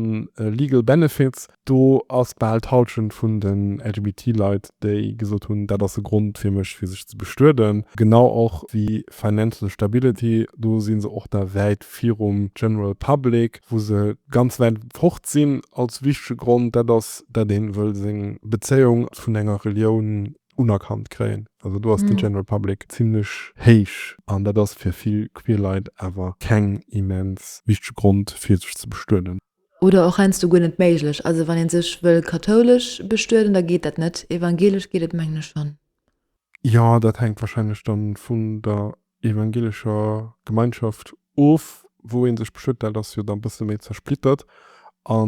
legal benefits, do ass bal d'Halschent vun den LGBT-Leit, déi gesot hunn, dat ass e Grond fir mech, fir sech ze bestueden. Genau och wéi financial stability, do si se och da wäit virum general public, wou se ganz wäit fort sinn als wichtege Grond, dat ass, datt ee wëll seng Bezéiung vun enger Relioun unerkannt kréien. Also do ass den general public zimlech héich an dat ass fir vill queer Leit awer keng immens wichteg Grond fir sech ze bestueden. Oder och heiansdo guer net méiglech. Also wann een sech wëll kathoulesch bestueden, da geet dat net. Evangelesch geet et mengen ech schonn. Jo, dat hänkt wahrscheinlech dann vun der evangelescher Gemeinschaft of, wou ee sech beschwéert, dat ass jo da bësse méi zersplittert. A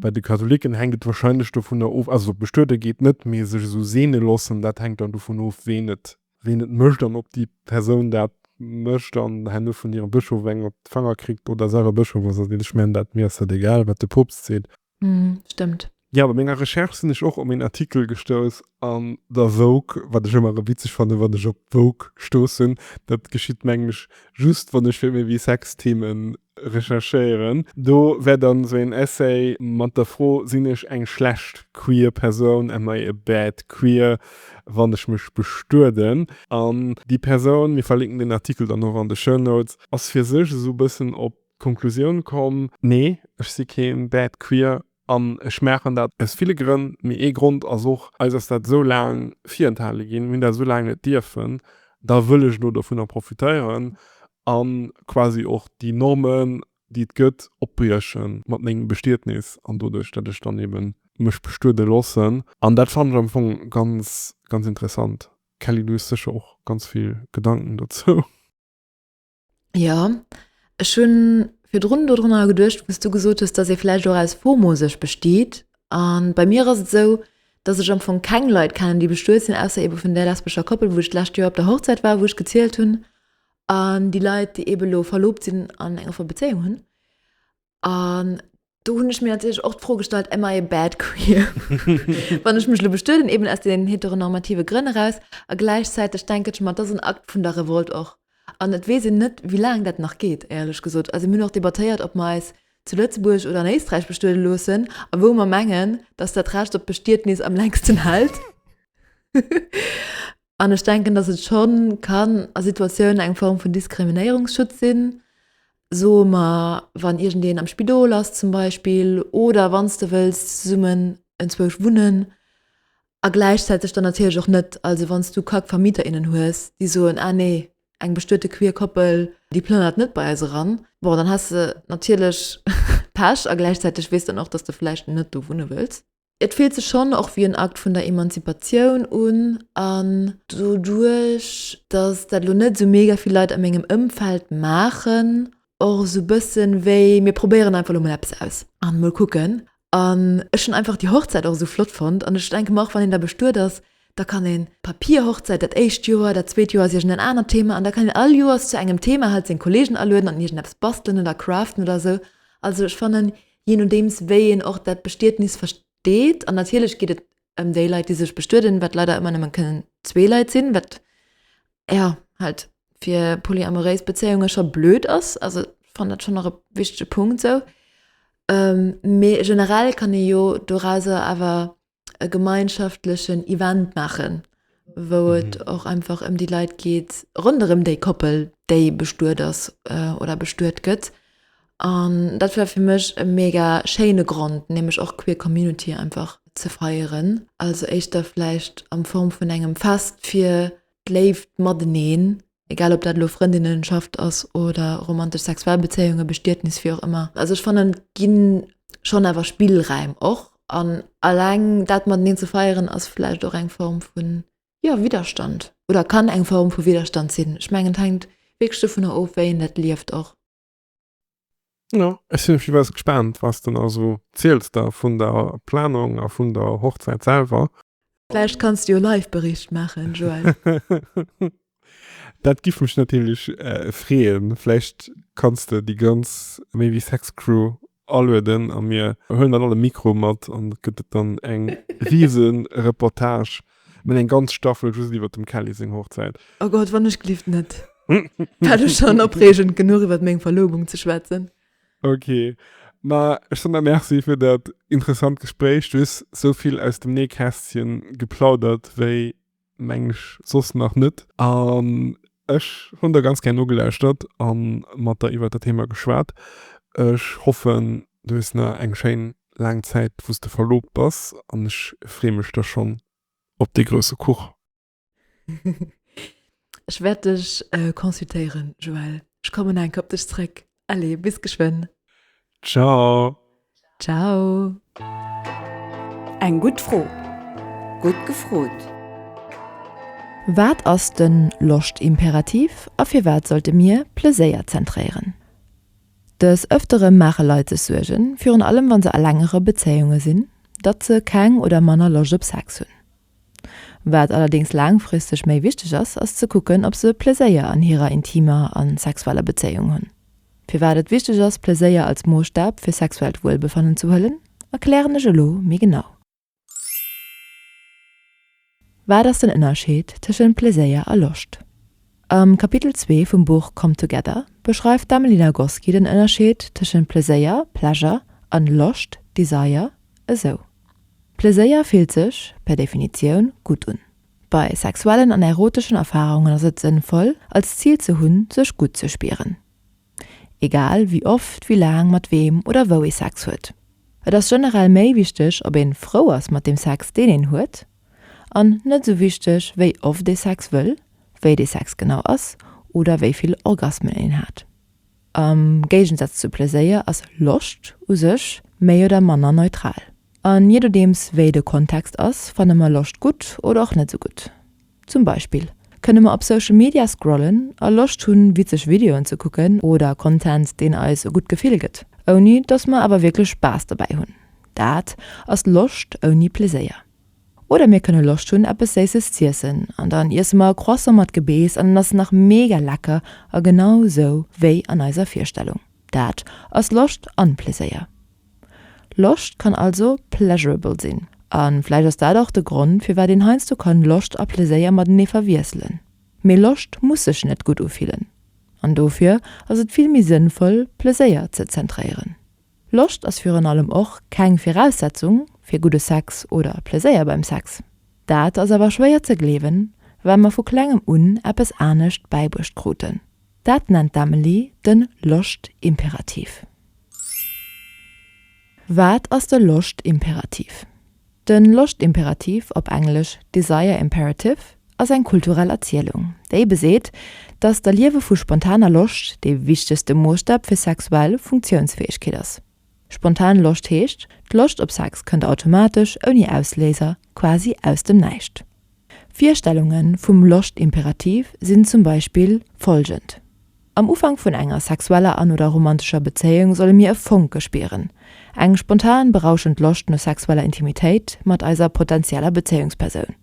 bei de Katholicken hänkt et warscheinlech dovunner of, also bestuede geet net, mee sech esou seene loossen, dat hänkt dann dovun of, ween et mécht an ob déi Persoun dat mécht an herno vun hirem Bëschof eng op d'Fanger kritt oder selwer Bëschof ass. Also, ech mengen, dat, mir ass dat egal, wat de Poopst seet. Mm, stimmt. Ja, bei menger Recherche sinn ech och op een Artikel gestouss an der Vogue, wat ech ëmmer erëm witzeg fannen, wann ech op d'Vogue stoossen. Dat geschitt, mengen ech, just wann ech fir méi wéi Sex-Theme recherchéieren. Do war dann esou een Essay mat der Fro, Sinn ech eng schlecht queer Persoun, am I a bad queer, wann ech mech bestueden? An déi Persoun, mir verlinken den Artikel dann och an de Show Notes, ass fir sech esou e bëssen op D'Konklusioun komm, Nee, ech si keen Bad Queer an ech maachen dat aus ville Grënn, mee ee Grond ass och, eis ass dat esou laang virenthale ginn, mir hunn dat esou laang net dierfen, da wëll ech elo dovunner profitéieren a quasi och déi Normen, déi et gëtt, opbrieche mat mengem Bestietnis an doduerch, datt ech dann eben mech bestuede loossen. An dat fannen ech am Fong ganz, ganz interessant. Kelly, du hues sécher och ganz vill Gedanken dozou. Ja, ech hunn virdrun do drunner geduecht, wou's du gesot hues, dass ee vläicht och aus FOMO sech besteet. An bei mir ass et esou, dass ech am Fong keng Leit kennen, déi bestuet sinn, ausser eebe vun där lesbescher Koppel, wou ech d'lescht Joer op der Hochzäit war, wou ech gezielt hunn. An déi Leit, déi eebe elo verloobt sinn an eng offer Bezéiung hunn, An do hunn ech mir natierlech och d'Fro gestallt, am I a bad queer? Wann ech mech lo bestueden, eben aus den heteronormative Grënn eraus, a gläichzäiteg denken ech mer, et ass en Akt vun der Revolt och. An et weess een net, wéi laang dat nach geet, éierlech gesot. Also mir hunn och debattéiert, ob mer eis zu Lëtzebuerg oder an Éisträich bestuede loossen, a wou mer mengen, datt dat Recht op Bestietnis am längsten hält. An ech denken, dass et scho kann a Situatiounen eng Form vun Diskriminéierungsschutz sinn, soe mer wann iergendeen am Spidol ass zum Beispill oder wann s de wëlls zesummen enzwousch wunnen a gläichzäiteg dann natierlech och net. Also wann s du kack Vermieter, innen hues, déi soen, ah nee, eng bestuete queer Koppel, déi plënnert net bei eis eran, bon dann has de natierlech Pech a gläichzäiteg weess dann och, dass de vläicht net do wunne wëlls. Et fillt sech schonn och wéi en Akt vun der Emanzipatioun un. An doduerch, datt dat elo net esou mega vill Leit a mengem Ëmfeld maachen, och esou e bësse wéi, mir probéieren einfach elo mol eppes aus a mol kucken. An ech hunn einfach déi Hochzäit och esou flott fonnt. An ech denke mer och, wann een da bestuet ass, da kann een d'Papierhochzäit dat éischt Joer, dat zweet Joer ass iergendeen anert Thema an da kann een all Joers zu engem Thema halt seng Kollegen alueden an iergendeppes bastelen oder craften oder esou. Also ech fannen, Je nodeems wéi een och dat Bestietnis versteet, an natierlech geet et ëm déi Leit, déi sech bestueden, wat leider ëmmer nëmme kënnen zwee Leit sinn, wat jo halt fir polyamoréis Bezéiunge scho blöd ass. Also ech fannen dat schonn nach e wichtege Punkt esou. Mee generell kann ee jo dorauser awer e gemeinschaftlechen Event machen, wou mhm. et och einfach ëm um déi Leiit geet ronderem déi Koppel, déi bestuet ass äh, oder bestuet gëtt. An dat war fir mech e mega schéine Grund, nämlich och queer Community einfach ze feieren. Also éischter vielleicht am Form vun engem Fest fir d'Léift mateneen Egal ob dat elo Frëndinnenschaft ass oder romantesch sexuell Bezéiungen, Bestietnis, wéi och ëmmer. Also ech fannen et gi schonn awer Spillräim och an alleng dat mateneen ze feieren ass vläicht och eng Form vun, jo, Widderstand oder kann eng Form vu Widderstand sinn. Ech mengen et hänkt wierklech dovunner of wéi een dat lieft och. Ja, ech sinn op jiddefalls gespaant, was de mer esou ziels da vun der Planung a vun der Hochzäit selwer. Vläicht kanns de jo Live-Bericht maachen, Joël. Dat giff mech natierlech freeën. Vläicht kanns de déi ganz Maybe Sex Crew alueden a mir huelen dann all e Mikro mat an et gëtt et dann eng riise Reportage, mir hunn eng ganz Staffel just iwwer dem Kelly seng Hochzäit. Oh Gott, wann ech gelift net dat ech schonn opreegend genuch iwwert meng Verlobung ze schwätzen. Ok, ma ech soen der Merci fir dat interessant Gespréich. Du hues esou vill aus dem Nähkästchen geplaudert wéi Meng ech soss nach net. An ech hunn der ganz gär nogelauschtert a mat der iwwer dat Thema geschwat. Ech hoffen, du hues nach eng schéin laang Zäit, wou s de verloobt bass an ech freeë mech da schonn op dee grousse Kuch. Ech wäert dech consultéieren, Joëlle. Ech kommen nach eng Kéier op dech zréck. Allez, bis geschwënn. Ciao. Ciao. Eng gutt Fro. Gutt gefrot. Wat ass de Loscht-Imperativ a firwat sollte mir Pleséier zentréieren? Des Ëftere maache Leit sech Suergen, virun allem wa se a längere Bezéiunge sinn, datt se keng oder manner Loscht op Sex hunn. Wat allerdéngs laangfristeg méi wichteg ass, ass ze kucken, ob se Pleséier an hirer intimer a sexueller Bezéiung hunn. Firwat et wichteg ass, Pleséier als Moosstab fir sexuellt Wuelbefannen ze huelen, erklären ech elo méi genau. Wat ass den Ënnerscheed tëschent Pleséier a Loscht? Am Kapitel zwee vum Buch Come Together beschreift d'Amelie Nagoski den Ënnerscheed tëschent Pleséier, Pleasure, an Loscht, Desire, esou. Pleséier fillt sech, per Definitioun, gutt un. Bei sexuellen an eroteschen Erfarungen ass et sënnvoll, als Zil ze hunn, sech gutt ze spieren. Egal wéi oft, wéi laang, mat weem oder wou ee Sex huet. Et ass generell méi wichteg, ob een frou ass mat dem Sex, deen een huet, an net esou wichteg, wéi oft ee Sex wëll, wéi dee Sex genau ass oder wéi vill Orgasmen een hat. Am Géigensatz zu Pleséier ass Loscht u sech méi oder manner neutral. An je dodeems wéi de Kontext ass, fanne mer Loscht gutt oder och net sou gutt. Zum Beispill kënne mer op Social Media scrollen a Loscht hunn, witzeg Videoen ze kucken oder Content, deen eis e gutt Gefill gëtt, ouni dass mer awer wierklech Spaass dobäi hunn. Dat ass Loscht ouni Pleséier. Oder mir kënne Loscht hunn eppes Séisses z'iessen an dann iesse mer e Croissant mat Gebeess an en ass nach mega lecker a genau esou wéi an eiser Virstellung. Dat ass Loscht an Pleséier. Loscht kann also pleasurable sinn an vläicht ass dat och de Grond firwat een heiansdo kann Loscht a Pleséier matenee verwiesselen. Mee Loscht muss sech net gutt ufillen an dofir ass et vill méi sënnvoll Pleséier ze zentréieren. Loscht ass virun allem och keng Viraussetzung fir gudde Sex oder Pleséier beim Sex. Dat ass awer schwéier ze gleewen, well mer vu klengem un eppes anescht bäibruecht kruten. Dat nennt d'Amelie de Loscht-Imperativ. Wat ass de Loscht-Imperativ? De Loscht-Imperativ, op Englesch, Desire Imperative, ass eng kulturell Erzielung, déi beseet, datt d'Erliewe vu spontaner Loscht dee wichtegste Moosstab fir sexuell Funktiounsfäegkeet ass. Spontan Loscht heescht, d'Loscht op Sex kënnt automatesch, ouni Ausléiser, quasi aus dem Näischt. Virstellunge vum Loscht-Imperativ sinn zum Beispill folgend, Am Ufank vun enger sexueller an oder romantescher Bezéiung solle mir e Fonke spieren, eng spontan, berauschend Loscht no sexueller Intimitéit mat eiser potentieller Bezéiungspersoun,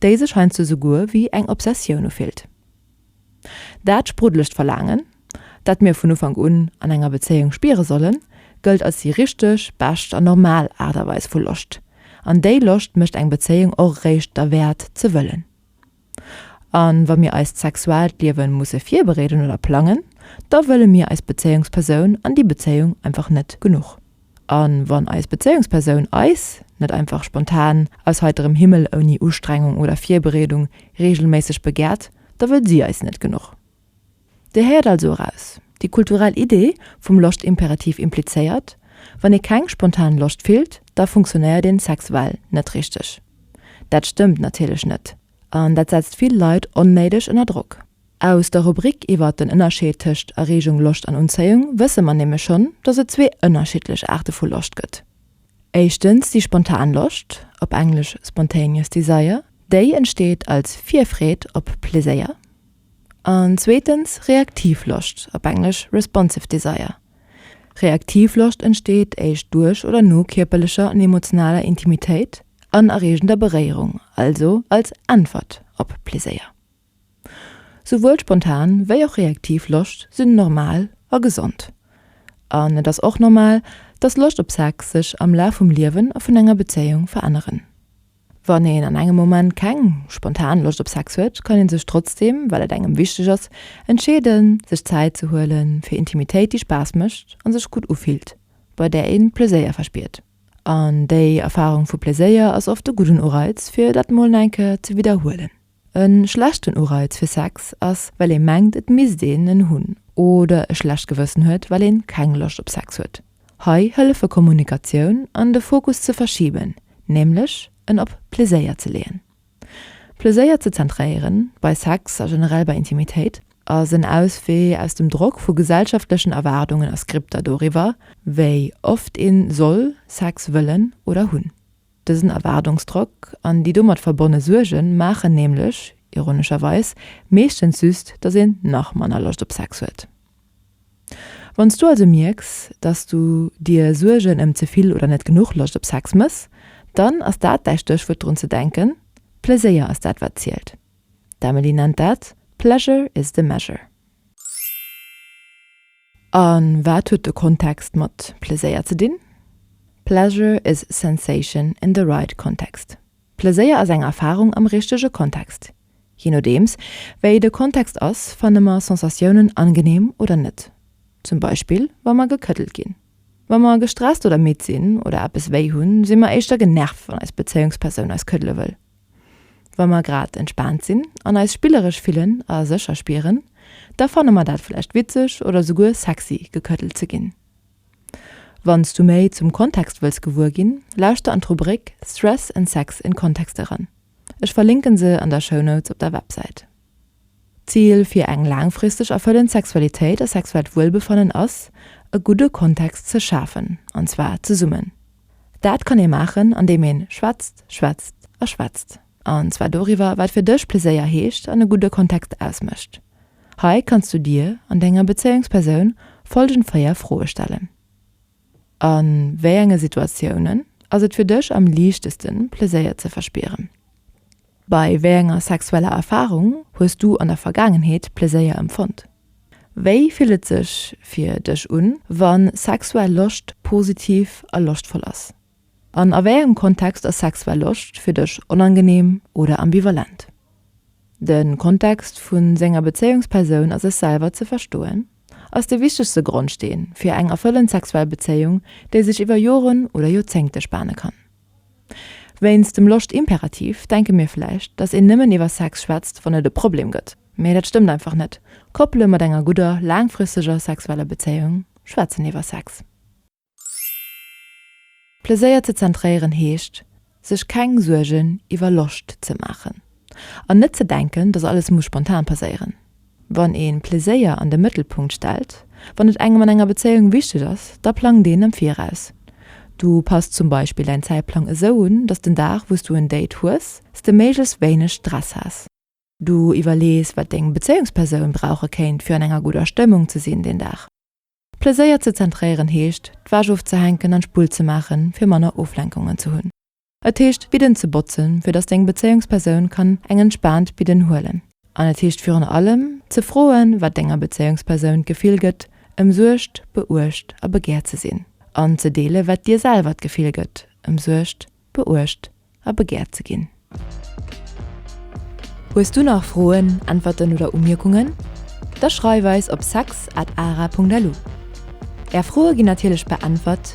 déi sech heiansdo souguer wéi eng Obsessioun ufillt. Dat sprudlegt Verlaangen, dat mir vun Ufank un an enger Bezéiung spiere sollen, gëllt als déi richteg, bescht an normal Aart a Weis vu Loscht. An déi Loscht mécht eng Bezéiung och eréischt derwäert, ze wëllen. A wa mir eist sexuellt Liewe musse virbereeden oder plangen, da wëlle mir eis Bezéiungspersoun an déi Bezéiung einfach net genuch. A wann eis Bezéiungspersoun eis net einfach spontan, aus heiterem Himmel, ouni Ustrengung oder Virbereedung reegelméisseg begäert, da wëll si eis net genuch. Dir héiert also eraus, déi kulturell Idee vum Loscht-Imperativ implizéiert, wann ee keng spontan Loscht fillt, da funktionéiert een sexuell net richteg. Dat stëmmt natierlech net an dat setzt vill Leit onnéideg ënner Drock. Aus der Rubrik iwwer den Ënnerscheed tëscht Erregung, Loscht an Unzéiung wësse mer nämlech schonn, dass et zwee ënnerschiddlech Aarte vu Loscht gëtt. Éischtens déi spontan Loscht, op Englesch spontaneous desire, déi entsteet als Virfreed op Pleséier, an zweetens reaktiv Loscht, op Englesch responsive desire. Reaktiv Loscht entsteet éischt duerch oder no kierperlecher an emotionaler Intimitéit an erreegender Beréierung, also als Äntwert op Pleséier. Souwuel spontan wéi och reaktiv Loscht sinn normal a gesond. An et ass och normal, dass Loscht op Sex sech am Laf vum Liewen a vun enger Bezéiung veränneren. Wann een an engem Moment keng spontan Loscht op Sex huet, kann ee sech trotzdeem, well et engem wichteg ass, entscheeden, sech Zäit ze huelen fir Intimitéit, déi Spaass mécht a sech gutt ufillt, bei där ee Pleséier verspiert. An déi Erfarung vu Pleséier ass oft e gudden Ureiz, fir dat mol enke ze widderhuelen. E schlechten Ureiz fir Sex ass, well ee mengt, et misst een en hunn. Oder e schlecht Gewëssen huet, well een keng Loscht op Sex huet. Hei hëllefe Kommunikatioun an de Fokus ze verschiben, nämlech en op Pleséier ze leeën. Pleséier ze zentréieren, bei Sex a generell bei Intimitéit, ass en Auswee aus dem Drock vu gesellschaftlechen Erwaardungen a Skripter doriwwer, wéi oft een soll Sex wëllen oder hunn. Dësen Erwaardungsdrock an déi domat verbonne Suerge maachen nämlech, ironescherweis, meeschtens just, datt een nach manner Loscht op Sex huet. Wann s du also mierks, datt s du dir Suergen ëm ze vill oder net genuch Loscht op Sex méchs, dann ass dat däi Stéchwuert drun ze denken, Pleséier ass dat wat zielt. D'Emily nennt dat Pleasure is the measure. A wat huet de Kontext mat Pleséier ze dinn? Pleasure is sensation in the right context, Pleséier ass eng Erfarung am richtege Kontext. Jee nodeems, wéi de Kontext ass, fanne mer Sensatiounen angeneem oder net. Zum Beispill, wa mer gekëddelt ginn. Wa mer gestresst oder midd sinn oder eppes wéi hunn, si mer éischter genervt, wann eis Bezéiungspersoun eis këddele wëll. Wa mer grad entspaant sinn an eis spilleresch fillen a sécher spieren, da fanne mer dat vläicht witzeg oder souguer sexy gekëddelt ze ginn. Wann s du méi zum Kontext wëlls gewuer ginn, lauschter an d'Rubrik Stress and Sex in Context eran. Ech verlinken se an der Shownotes op der Websäit. D'Zil fir eng laangfristeg erfëllend Sexualitéit a sexuellt Wuelbefannen ass, e gudde Kontext ze schafen, an zwar zesummen. Dat kann ee maachen, andeem ee schwätzt, schwätzt a schwätzt, an zwar doriwwer, wat fir dech Pleséier heescht an e gudde Kontext ausmécht. Hei kanns du dir an denger Bezéiungspersoun follgend véier Froe stellen, A wéi enge Situatiounen ass et fir dech am liichtesten, Pleséier ze verspieren? Bei wéi enger sexueller Erfarung hues du an der Vergaangenheet Pleséier empfonnt? Wéi fillt et sech fir dech un, wa sexuell Loscht positiv a loschtvoll ass? An a wéi engem Kontext ass sexuell Loscht fir dech onangeneem oder ambivalent? De Kontext vu senger Bezéiungspersoun a sech selwer ze verstoen, ass de wichtegste Grondsteen fir eng erfëllend sexuell Bezéiung, déi sech iwwer Joren oder Joerzéngte spane kann. Wéinst dem Loscht-Imperativ denke mir vläicht, dass een nëmmen iwwer Sex schwätzt, wann et e Problem gëtt. Mee dat stëmmt einfach net. Koppele mat enger gudder, laangfristeger sexueller Bezéiung schwätzen iwwer Sex. Pleséier ze zentréieren heescht, sech keng Suergen iwwer Loscht ze maachen an net ze denken, dass alles muss spontan passéieren. Wann ee Pleséier an de Mëttelpunkt stellt, wann et engem an enger Bezéiung wichteg ass, da plangt een am Viraus. Du passt zum Beispill däin Zäitplang esou un, dass den Dag, wou s du en Date hues, s de méiglechst wéineg Stress has. Du iwwerlees, wat deng Bezéiungspersoun brauche kéint, fir an enger gudder Stëmmung ze sinn deen Dag. Pleséier ze zentréieren heescht, d'Wäsch ofzehänken an d'Spull ze maachen, fir manner Oflenkungen ze hunn. Et heescht Bidden ze botzen, fir dass deng Bezéiungspersoun kann eng entspaant Bidden huelen. An et heescht virun allem ze froen, wat denger Bezéiungspersoun d'Gefill gëtt, ëmsuergt, beuecht a begäert ze sinn, an ze deelen, wat dir selwer d'Gefill gëtt, ëmsuergt, beuecht a begäert ze ginn. Hues du nach Froen, Äntwerten oder Umierkungen? Da schreif eis op sex at ara punkt lu. Är Froe ginn natierlech beäntwert.